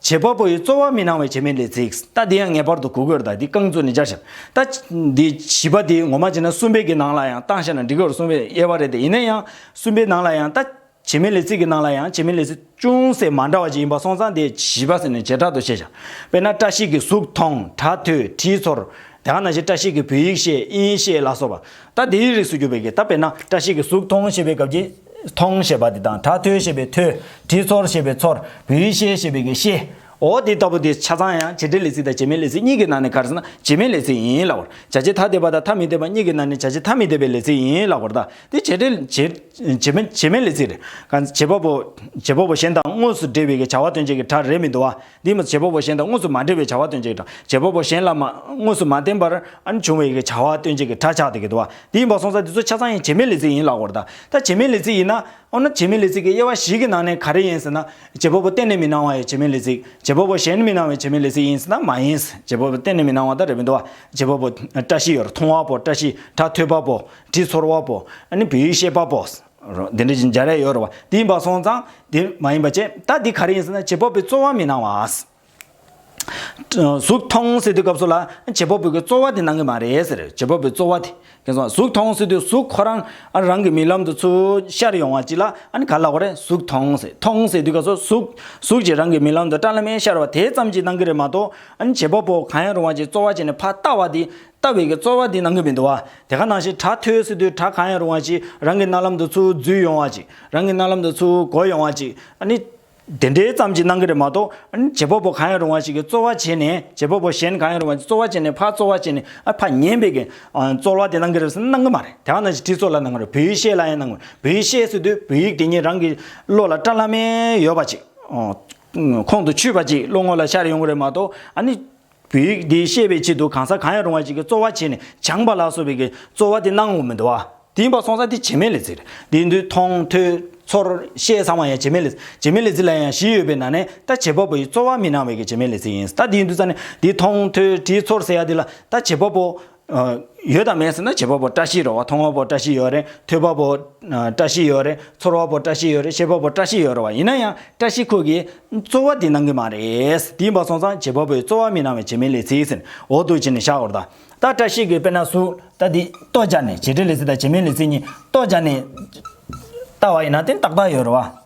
བྱེད་པ་པོ་ཡི་གཙོ་བ་མི་སྣང་བའི་བྱེད་མིན་ལས་ཚིག་རྟ་འདི་ཡང་ངེས་པར་དུ་གུ་གུལ་དང་དེའི་རྐང་བཙུགས་ནས་སྦྱར་ཞིང། རྟ། འདི་བཞི་པ་དེ་ངོ་མ་བྱེད་ན་གསུམ་པའི་གི་ནང་ལ་ཡང་རྟ་བཤད་ན་འགྲིག་གསུངས་པའི་དབྱེ་བ་རེད་དེ་ཡིན་ན་ཡང་གསུམ་པའི་ནང་ལ་ཡང་རྟ། བྱེད་མིན་ལས་ཚིག་གི་ནང་ལ་ཡང་བྱེད་མིན་ལས་ཚིག་ཅུང་ཟད་མ་འདྲ་བ་ཅིག་ཡིན་པ་སོང་ཙང་དེ་བཞི་པ་ཟེར་ནས་བྱེ་བྲག་ཏུ་བཤད་བྱ། དཔེར་ན་བཀྲ་ཤིས་ཀྱི་གཟུགས་མཐོང་གྲ་ཐོས་དྲིའི་ཚོར། དེའང་ན་བཞིན་བཀྲ་ཤིས་ཀྱི་བོད་ཡིག་ཤེས་དབྱིན་ཡིག་ཤེས་ལ་སོགས་པ། རྟ་དེའི་རིགས་སུ་གྱུར་པའི་གི་རྟ་དཔེར་ན་བཀྲ་ཤིས་ཀྱི་གཟུགས་མཐོང་ཞེས་པའི་སྐབས་ཀྱི། མཐོང་ཞེས་པ་དེ་དང་དྲ་ཐོས་ཞེས་པའི་ཐོས། དྲི་ཚོར་ཞེས་པའི་ཚོར། བུའི་ཤེས་ཞེས་པའི་གི་ཤེསའོ། དེ་ལྟ་བུ་དེ་ཆ་ཚང་ཡང་བྱེད་འབྲེལ་ལས་ཚིག་དང་བྱེད་མིན་ལས་ཚིག་གཉིས་ཀྱི་ནང་ནས་གར་ཟིན་ན་བྱེད་མིན་ལས་ཚིག་ཡིན་ལ་བར། བྱ་བྱེད་ཐ་དད་པ་དང་ཐ་མི་དད་པ་གཉིས་ཀྱི་ནང་ནས་བྱ་བྱེད་ཐ་མི་དད་པའི་ལས་ཚིག་ཡིན་ལ་བར་དག་དེ་བྱེད་འབྲེལ། བྱེད་མིན་ལས་ཚིག་རེད། བྱེད་པ་པོ། བྱེད་པོ་པོ་གཞན་དང་དངོས་སུ་འབྲེལ་བའི་གི་བྱ་བ་སྟོན་བྱེད་ཀྱི་སྒྲ་རེད་མི་འདུག་བ། འདིས་བྱེད་པ་པོ་གཞན་དང་དངོས་སུ་མ་འབྲེལ་བའི་བྱ་བ་སྟོན་བྱེད་ཀྱི་སྒྲ། བྱེད་པ་པོ་གཞན་ལ་མ། དངོས་སུ་མ་བརྟེན་པར། འབྱུང་བའི་བྱ་བ་སྟོན་བྱེད་ཀྱི་སྒྲ་ཆགས་སྡེ་དགེ་དུ་བ། འདིས་བ་སོང་ས་འདི་ཚོ་ཆ་ཚང་ཡིན་བྱེད་མེད་ལས་ཚིག་ཡིན་ལགས་པར་གདའ། ད་བྱེད་མེད་ལས་ཚིག་ཡིན་ན། འོ་ན་བྱེད་མེད་ལས་ཚིག་གི་དབྱེ་བ་བཞི་གི་ནང་ནས་ག་རེ་ཡིན་ཟེར་ན། བྱེད་པ་པོ་གཏན་ནས་མི་སྣང་བ་ཡི་བྱེད་མེད་ལས་ཚིག། བྱེད་པ་པོ་གཞན་མི་སྣང་བའི་བྱེད་མེད་ལས་ཚིག་ཡིན་ཟེར་ན་མ་ཡིན། བྱེད་པ་པོ་གཏན་ནས་མི་སྣང་བ་དང་རེ་མི་འདོ་བ། བྱེད་པ་པོ། བཀྲ་ཤིས་ཡོར་མཐོང་བ་པོ་བཀྲ་ཤིས་སྒྲ་ཐོས་པ་པོ། དྲི་ཚོར་བ་པོ། བུའི་ཤེས་པ་པོ། དེ་འདྲ་ཞིག་འཇལ་རེ་ཡོད་རེད་བ། དེ་ཡིན་པ་སོང་ཙང་དེ་མ་ཡིན་པ་བྱས། ད་དེ་ག་རེ་ཡིན་ཟེར་ན་བྱེད་པོ་པོའི་རྩོལ་བ་མི་གནང་བ། གཟུགས་མཐོང་སྲིད་དུས་སྐབས་སུ་ལ་བྱེད་པོ་པོ་གི་རྩོལ་བ་དེ་གནང་གི་མ་རེད་ཟེར། བྱེད་པོ་པོའི་རྩོལ་བ་དེ། ཁྱེད་སོང་གཟུགས་མཐོང་སྲིད་དུས་གཟུགས་ཁོ་རང་རང་གི་མིག་ལམ་དུ་ཚུར་ཤར་ཡོང་བ་ཅིག་ལ་ཨ་ནི་ག་ལ་གོ་རེ་གཟུགས་མཐོང་སྲིད་མཐོང་སྲིད་དུས་སྐབས་སུ་གཟུགས་གཟུགས་ཀྱིས་རང་གི་མིག་ལམ་དུ་སྐྲ་ལ་མེ་ཤར་བ་དེ་ཙམ་གྱིས་གནང་གི་རེད་མ་གཏོགས། ཨ་ནི་བྱེད་པོ་པོ་གང་ཡང་རུང་བ་ཅིག་རྩོལ་བ་བྱས་ནས་ཕ་ལྟ་བ་དེ་ལྟ་བའི་རྩོལ་བ་དེ་ནང་གི་མི་འདུ་བ་དེ་ག་ནང་བཞིན་གྲགས་ཐོས་སུ་དུས་གྲགས་གང་ཡང་རུང་བ་ཅིག་རང་གི་རྣ་ལམ་དུ་ཚུར་འཛུལ་ཡོང་བ་ཅིག་རང་གི་རྣ་ལམ་དུ་ཚུར་གོ་ཡོང་བ་ཅིག་ནི། དེ་འདྲའི་ཙམ་གྱི་སྣང་གི་རེད་མ་གཏོགས། བྱེད་པ་པོ་གང་ཡང་རུང་བ་ཞིག་གིས་རྩོལ་བ་བྱས་ནས་བྱེད་པ་པོ་གཞན་གང་ཡང་རུང་བ་ཅིག་རྩོལ་བ་བྱས་ནས་ཕར་རྩོལ་བ་བྱས་ནས་ཕར་ཉན་པའི་རྩོལ་བ་དེ་ནང་གི་རེད་ཟེར་ན་སྣང་གི་མ་རེད་དེ་ག་ནང་བཞིན་དྲི་ཚོར་ལ་སྣང་གི་རེད་བོད་ཡིག་ཤེས་ལ་ཡང་སྣང་གི་རེད་བོད་ཡིག་ཤེས་སུ་དུས་བོད་ཡིག་དེ་ཉིད་རང་གི་བློ་ལ་བཀྲ་ལྷ་མེད་ཡོད་པ་ཅིག་ཁོང་དུ་ཆུད་པ་ཅིག་བློ་ངོ་ལ་ཤར་ཡོང་གི་རེད་མ་གཏོགས། བོད་ཡིག་འདི་ཤེས་པའི་ཆེད་དུ་གང་ཟག་གང་ཡང་རུང་བ་ཞིག་གིས་རྩོལ་བ་བྱས་ནས་སྦྱངས་པ་ལ་སོགས་པའི་རྩོལ་བ་དེ་སྣང་ངོ་མི་འདུག་བ། དེ་ཡིན་པར་སོང་ས་དེ་བྱེ་སྨྲའི་ལེ་ཚིག་རེད། དེ་འདུས་མཐོང་ཐོས་ཚོར་ཤེས་ཚང་མ་ཡང་བྱེ་སྨྲའི་ལེ་ཚིག་བྱེ་སྨྲའི་ལེ་ཚིག་ལ་ཡང་བཞི་ཡོད་པའི་ནང་ནས་ད་བྱེད་པ་པོ་ཡིས་རྩོལ་བ་མི་སྣང་བའི་གི་བྱེ་སྨྲའི་ལེ་ཚིག་ཡིན་ད་དེ་འདུས་ས་ནས་འདི་མཐོང་ཐོས་དྲིས་ཚོར་ཟེར་ཡ་དེ་ལ་ད་བྱེད་པ་པོ་ཡོད་དམ་མེད་ཟེར་ན་བྱེད་པ་པོ་བཀྲ་ཤིས་ར་བ་མཐོང་བ་པོ་བཀྲ་ཤིས་ཡོད་རེད་ཐོས་པ་པོ་བཀྲ་ཤིས་ཡོད་རེད་ཚོར་བ་པོ་བཀྲ་ཤིས་ཡོད་རེད་ཤེས་པ་པོ་བཀྲ་ཤིས་ཡོད་རེད་བ་ཡིན་ན་ཡང་བཀྲ་ཤིས་ཁོ་གིས་རྩོལ་བ་དེ་གནང་གི་མ་རེད་དེ་ཡིན་པ་སོང་ཙང་བྱེད་པ་པོས་རྩོལ་བ་མི་གནང་བའི་བྱེད་མིན་ལས་ཚིག་ཟིན་འོག་ཏུ་བྱས་ནས་བཞག་འོར་ད་ལྟ་བཀྲ་ཤིས་ཀྱིས་དཔེར་ན་སུ་ད་དེ་རྟོགས་བྱ་ནི་བྱེད་འབྲེལ་ལས་ཚིག་དང་བྱེད་མིན་ལས་ཚིག་གཉིས་རྟོགས་བྱ་ནི་ལྟ་བ་ཡིན་ན་དེ་ཏག་ཏག་ཡོད་རེད་བ།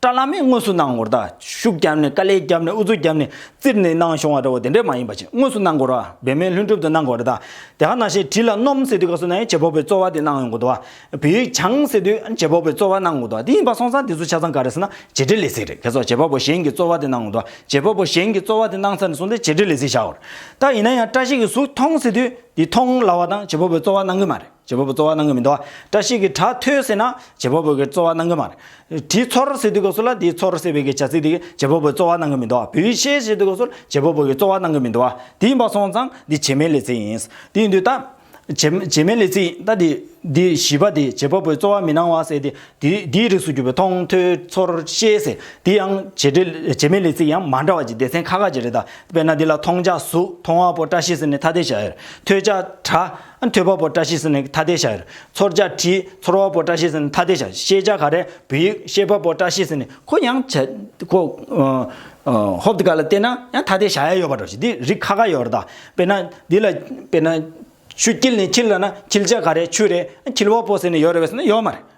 བཀྲ་བླ་མས་དངོས་སུ་གནང་སྐོར་དང་ཤུགས་བརྒྱབ་ནས་དཀའ་ལས་བརྒྱབ་ནས་ཨུ་ཚུགས་བརྒྱབ་ནས་བཙིར་ནས་གནང་བྱུང་བ་འདྲ་བོ་དེ་འདྲ་མ་ཡིན་པ་ཅིག་དངོས་སུ་གནང་སྐོར་བ་འབད་མེད་ལྷུན་གྲུབ་ཏུ་གནང་སྐོར་དང་དེ་ག་ནང་བཤད་བྲིས་ལ་སྣོམ་ཟེར་དུས་ག་སོ་ནའི་བྱེད་ཕོག་པའི་རྩོལ་བ་དེ་གནང་ཡོང་དགོས་འདུག་བ། བོད་ཡིག་སྦྱང་ཟེར་དུས་བྱེད་ཕོག་པའི་རྩོལ་བ་གནང་དགོས་འདུག་བ་དེ་ཡིན་པ་སོང་ཙང་དེ་ཚོ་ཆ་ཚང་ག་རེ་ཟེར་ན་བྱེད་འབྲེལ་ལས་ཟིག་རེད་ཁྱེད་ཚོ་བྱེད་ཕོག་པོ་གཞན་གྱི་རྩོལ་བ་དེ་གནང་དགོས་འདུག་བྱེད་ཕོག་པོ་གཞན་གྱི་རྩོལ་བ་དེ་གནང་ཚར་ནས་སོང་སྟེ་བྱེད་འབྲེལ་ལས་ཟིག་བྱའོ། ད་ཡིན་ན་ཡང་བཀྲ་ཤིས་ཀྱི་གཟུགས་མཐོང་ཟེར་དུས་དེ་མཐོང་སླ་བ་དང་བྱེད་ཕོག་པའི་རྩོལ་བ་གནང་གི་མ་རེད། བྱེད་པོ་པོ་རྩོལ་བ་གནང་གི་མི་འདུག་བཀྲ་ཤིས་ཀྱི་གྲྭ་ཐོས་ཟེར་ན་བྱེད་པོ་པོ་གི་རྩོལ་བ་གནང་གི་མ་རེད། དྲིའི་མཚོར་ཟེར་དུས་གོ་སོ་ལ་དེའི་མཚོར་ཟེར་བའི་གི་བྱ་ཚིག་དེ་གིས་བྱེད་པོ་པོའི་རྩོལ་བ་གནང་གི་མི་འདུག་བུའི་ཤའི་ཞེས་དུས་གོ་སོར་བྱེད་པོ་པོ་གི་རྩོལ་བ་གནང་གི་མི་འདུག་དེ་ཡིན་པ་སོང་ཙང་འདི་བྱེ་མའི་ལས་ཚིག་ཡིན། དེ་ཡིན་དུས་ད། བྱེ། བྱེ་མའི་ལས་ཚིག་ཡིན་ད། འདི་བཞི་པ་དེ་བྱེད་པོ་པོའི་རྩོལ་བ་མི་གནང་བ་ཟེར་ཏེ། དེ་དེའི་རིགས་སུ་གྱུར་པའི་མཐོང་ཐོས་ཚོར་ཤེས་ཟེར་དེ་ཡང་བྱེ་བྲེ། བྱེ་མའི་ལས་ཚིག་ཡང་མ་འདྲ་བ་ཅིག་སྡེ་ཚན་ཁ་ཁ་ཅིག་རེད་ད། དཔེར་ན་འདི་ལ་མཐོང་བྱ་གཟུགས་མཐོང་བ་པོ་བཀྲ་ཤིས་ཟེར་ནས་ཐ་དད་བྱ་ཡོད། ཐོས་བྱ་གྲྭ། ཐོས་པ་པོ་བཀྲ་ཤིས་ནི་ཐ་དད་བྱ། ཚོར་བྱ་དྲི། ཚོར་བ་པོ་བཀྲ་ཤིས་ནི་ཐ་དད་བྱ། ཤེས་བྱ་ག་རེ། བུ་ཡིག། ཤེས་པ་པོ་བཀྲ་ཤིས་ནི་གོ། ཡང་བྱ། གོ། ཧོབ་ཏི་ཀ་ལ་བལྟས་ན་ཡང་ཐ་དད་བྱ་ཡ་ཡོད་པར་འགྲོ་ཞིང་འདི་རིགས་ཁ་ཁ་ཡོད་རེད། དཔེར་ན། འདི་ལ། དཔེར་ན། ཆུ་འཁྱིལ་ནི་འཁྱིལ་ལ་ན་འཁྱིལ་བྱ་ག་རེ། ཆུ་རེད། འཁྱིལ་བ་པོ་ཟེར་ནི་ཡོད་རེད་བས་ན་ཡོད་མ་རེད།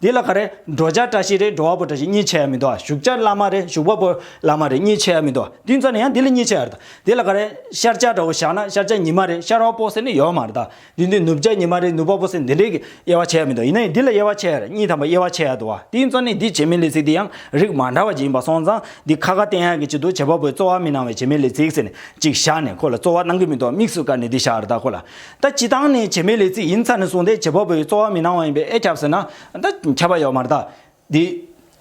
འདི་ལ་ག་རེ། འགྲོ་བྱ་བཀྲ་ཤིས་རེད་འགྲོ་བ་པོ་བཀྲ་ཤིས་གཉིས་ཆེ་ཡ་མི་འདུག་བཞུགས་བྱ་བླ་མ་རེད་བཞུགས་པ་པོ་བླ་མ་རེད་གཉིས་ཆེ་ཡ་མི་འདུག་བསྟུན་རྩ་ནི་ཡང་འདི་ལ་གཉིས་ཆེ་ཡར་འདུག་འདི་ལ་ག་རེ། ཤར་བྱ་དགྲ་བོ་བཞག་ན་ཤར་བྱ་ཉི་མ་རེད་ཤར་བ་པོ་ཟེར་ནི་ཡོད་མ་རེད་དེ་འདུག་ནུབ་བྱ་ཉི་མ་རེད་ནུབ་བ་པོ་ཟེར་འདི་འདྲའི་དབྱེ་བ་ཆེ་ཡ་མི་འདུག་ཡིན་ན་ཡང་འདི་ལ་དབྱེ་བ་ཆེ་ཡར་གཉིས་དམ་པ་དབྱེ་བ་ཆེ་ཡ་འདུག་བསྟུན་རྩ་ནི་འདི་བྱེ་མའི་ལས་ཚིག་འདི་ཡང་རིགས་མ་འདྲ་བ་ཅིག་ཡིན་པ་སོང་ཙང་འདི་ཁ་ཁ་བསྟན་ཡག་གི་ཅིག་འདུག་བྱེད་པ་པོའི་རྩོལ་བ་མི་གནང་བའི་བྱེ་མའི་ལས་ཚིག་ཟེར་ནས་ཅིག་བཞག་ནས་ཁོ་ལ་རྩོལ་བ་གནང་གི་མི་འདུག་དམིགས་སུ་བཀར་ནས་འདི་བཞག་རེ་ད་ཁོ་ལ་ད་སྤྱི་བཏང་ནས་བྱེ་མའི་ལས་ཚིག་ཡིན་ཚར་ནས་བཟུང་སྟེ་བྱེ་བ་པོའི་རྩོལ་བ་མི་སྣང་བ་ཡིན་པས་ཨེ་ཁྱབ་ཟེར་ན། ད་ཁྱབ་པ་ཡོད་མ་རྟགས། དེ།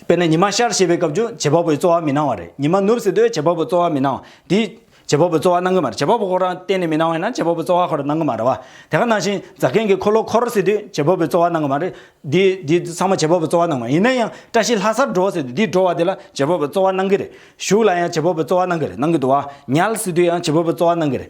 དཔེར་ན་ཉི་མ་ཤར་ཞེས་པའི་སྐབས་ཀྱང་བྱེ་བ་པོའི་རྩོལ་བ་མི་སྣང་བ་རེད་ཉི་མ་ནུབ་ཟེར་དུས་བྱེ་བ་པོའི་རྩོལ་བ་མི་སྣང། དེ། བྱེ་བ་པོའི་རྩོལ་བ་སྣང་གི་མ་རེད་བྱེ་བ་པོ་ཁོ་རང་གཏན་ནས་མི་སྣང་བས་ན་བྱེ་བ་པོའི་རྩོལ་བ་ཁོ་རང་སྣང་གི་མ་རེད་བ། དེ་ག་ནང་བཞིན་རྫ་མཁན་གྱིས་འཁོར་ལོ་འཁོར་ཟེར་དུས་བྱེ་བ་པོའི་རྩོལ་བ་སྣང་གི་མ་རེད། དེ། དེ་ཚང་མ་བྱེ་བ་པོའི་རྩོལ་བ་སྣང་བ་ཡིན་ན་ཡང་བཀྲ་ཤིས་ལྷ་སར་འགྲོ་ཟེར་དུས་དེ་འགྲོ་བ་དེ་ལ་བྱེ་བ་པོའི་རྩོལ་བ་སྣང་གི་རེད། གཞུག་ལ་ཡང་བྱེ་བ་པོའི་རྩོལ་བ་སྣང་གི་རེད་སྣང་གི་འདུག་བ། ཉལ་ཟེར་དུས་ཡང་བྱེ་བ་པོའི་རྩོལ་བ་སྣང་གི་རེད།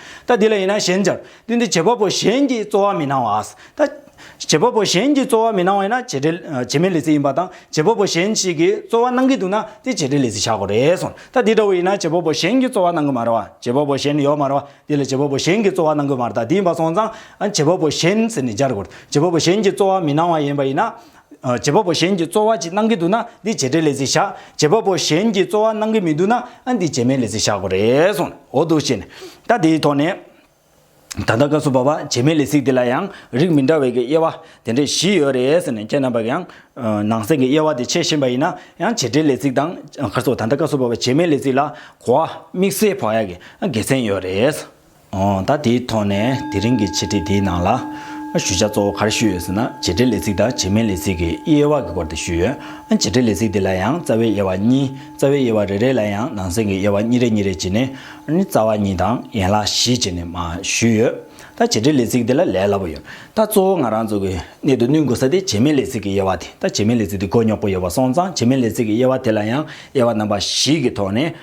ད་འདི་ལ་ཡིན་ན་གཞན་སྦྱར། དོན་དེ་བྱེད་པ་པོ་གཞན་གྱིས་རྩོལ་བ་མི་གནང་བ། ད། བྱེད་པ་པོ་གཞན་གྱིས་རྩོལ་བ་མི་གནང་བ་ཡིན་ན་བྱེད་འབྲེལ། བྱེད་མེད་ལས་ཚིག་ཡིན་པ་དང་བྱེད་པ་པོ་གཞན་ཞིག་གིས་རྩོལ་བ་གནང་གི་འདུག་ན་དེ་བྱེད་འབྲེལ་ལས་ཚིག་བྱ་དགོས་རེད་གསུངས། ད་འདི་འདྲ་བོ་ཡིན་ན་བྱེད་པ་པོ་གཞན་གྱིས་རྩོལ་བ་གནང་གི་མ་རེད་བ། བྱེད་པ་པོ་གཞན་ཡོད་མ་རེད་བ། འདི་ལ་བྱེད་པ་པོ་གཞན་གྱིས་རྩོལ་བ་གནང་གི་མ་རེད་ད་འདི་ཡིན་པ་སོང་ཙང། བྱེད་པ་པོ་གཞན་ཟེར་ནས་སྦྱར་དགོས་རེད། བྱེད་པ་པོ་གཞན་གྱིས་རྩོལ་བ་མི་གནང་བ་ཡིན་པ་ཡིན་ན། བྱེད་པ་པོ་གཞན་གྱིས་རྩོལ་བ་གཅིག་གནང་གི་འདུག་ན་འདི་བྱེད་འབྲེལ་ལས་ཚིག་བཞག་བྱེད་པ་པོ་གཞན་གྱིས་རྩོལ་བ་གནང་གི་མི་འདུག་ན་འདི་བྱེད་མེད་ལས་ཚིག་བཞག་དགོས་རེད་གསུངས། འོ་འདུག་བྱས་ནས། ད་དེའི་ཐོག་ནས། ད་ལྟ་སྐབས་སུ་བབ་པ་བྱེད་མེད་ལས་ཚིག་འདི་ལ་ཡང་རིགས་མི་འདྲ་བའི་གི་དབྱེ་བ་དེ་འདྲས་བཞི་ཡོད་རེད་ཟེར་ནས་ཁྱེད་རྣམས་པར་ཡང། ནང་གསེས་ཀྱི་དབྱེ་བ་དེ་འཆད་བཞིན་པ་ཡིན་ན་ཡང་བྱེད་འབྲེལ་ལས་ཚིག་དང། ཁར་སོགས་ད་ལྟ་སྐབས་སུ་བབ་པ་བྱེད་མེད་ལས་ཚིག་ལ་གོ་བ་དམིགས་བསལ་བག་ཡག་གི་དགེ་མཚན་ཡོད་རེད། ད་དེའི་ཐོག་ནས་དེ་རིང་གི་འཆད་ཁྲིད་འདིའི་ནང་ལ། ཞུ་བྱ་གཙོ་བོ་ག་རེ་ཞུས་ཡོད་ཟེར་ན་བྱེད་འབྲེལ་ལས་ཚིག་དང་བྱེད་མིན་ལས་ཚིག་གི་དབྱེ་བ་གི་སྐོར་དེ་ཞུས་ཡོད། བྱེད་འབྲེལ་ལས་ཚིག་འདི་ལ་ཡང་རྩ་བའི་དབྱེ་བ་གཉིས་རྩ་བའི་དབྱེ་བ་རེ་རེ་ལ་ཡང་ནང་གསེས་ཀྱི་དབྱེ་བ་གཉིས་རེ་གཉིས་རེ་བྱས་ནས་ནི་རྩ་བ་གཉིས་དང་ཡན་ལག་བཞི་བྱས་ནས་མ་ཞུས་ཡོད། ད་བྱེད་འབྲེལ་ལས་ཚིག་འདི་ལ་ལས་སླ་པོ་ཡོད། ད་གཙོ་བོ་ང་རང་ཚོ་གི་གནད་དུ་བསྣུན་དགོས་ས་དེ་བྱེད་མིན་ལས་ཚིག་གི་དབྱེ་བ་དེ་ད་བྱེད་མིན་ལས་ཚིག་འདི་མགོ་རྙོག་པོ་ཡོད་པ་སོང་ཙང་བྱེད་མིན་ལས་ཚིག་གི་དབྱེ་བ་དེ་ལ་ཡང་དབྱེ་བ་རྣམ་པ་བཞི་གི་ཐོག་ནས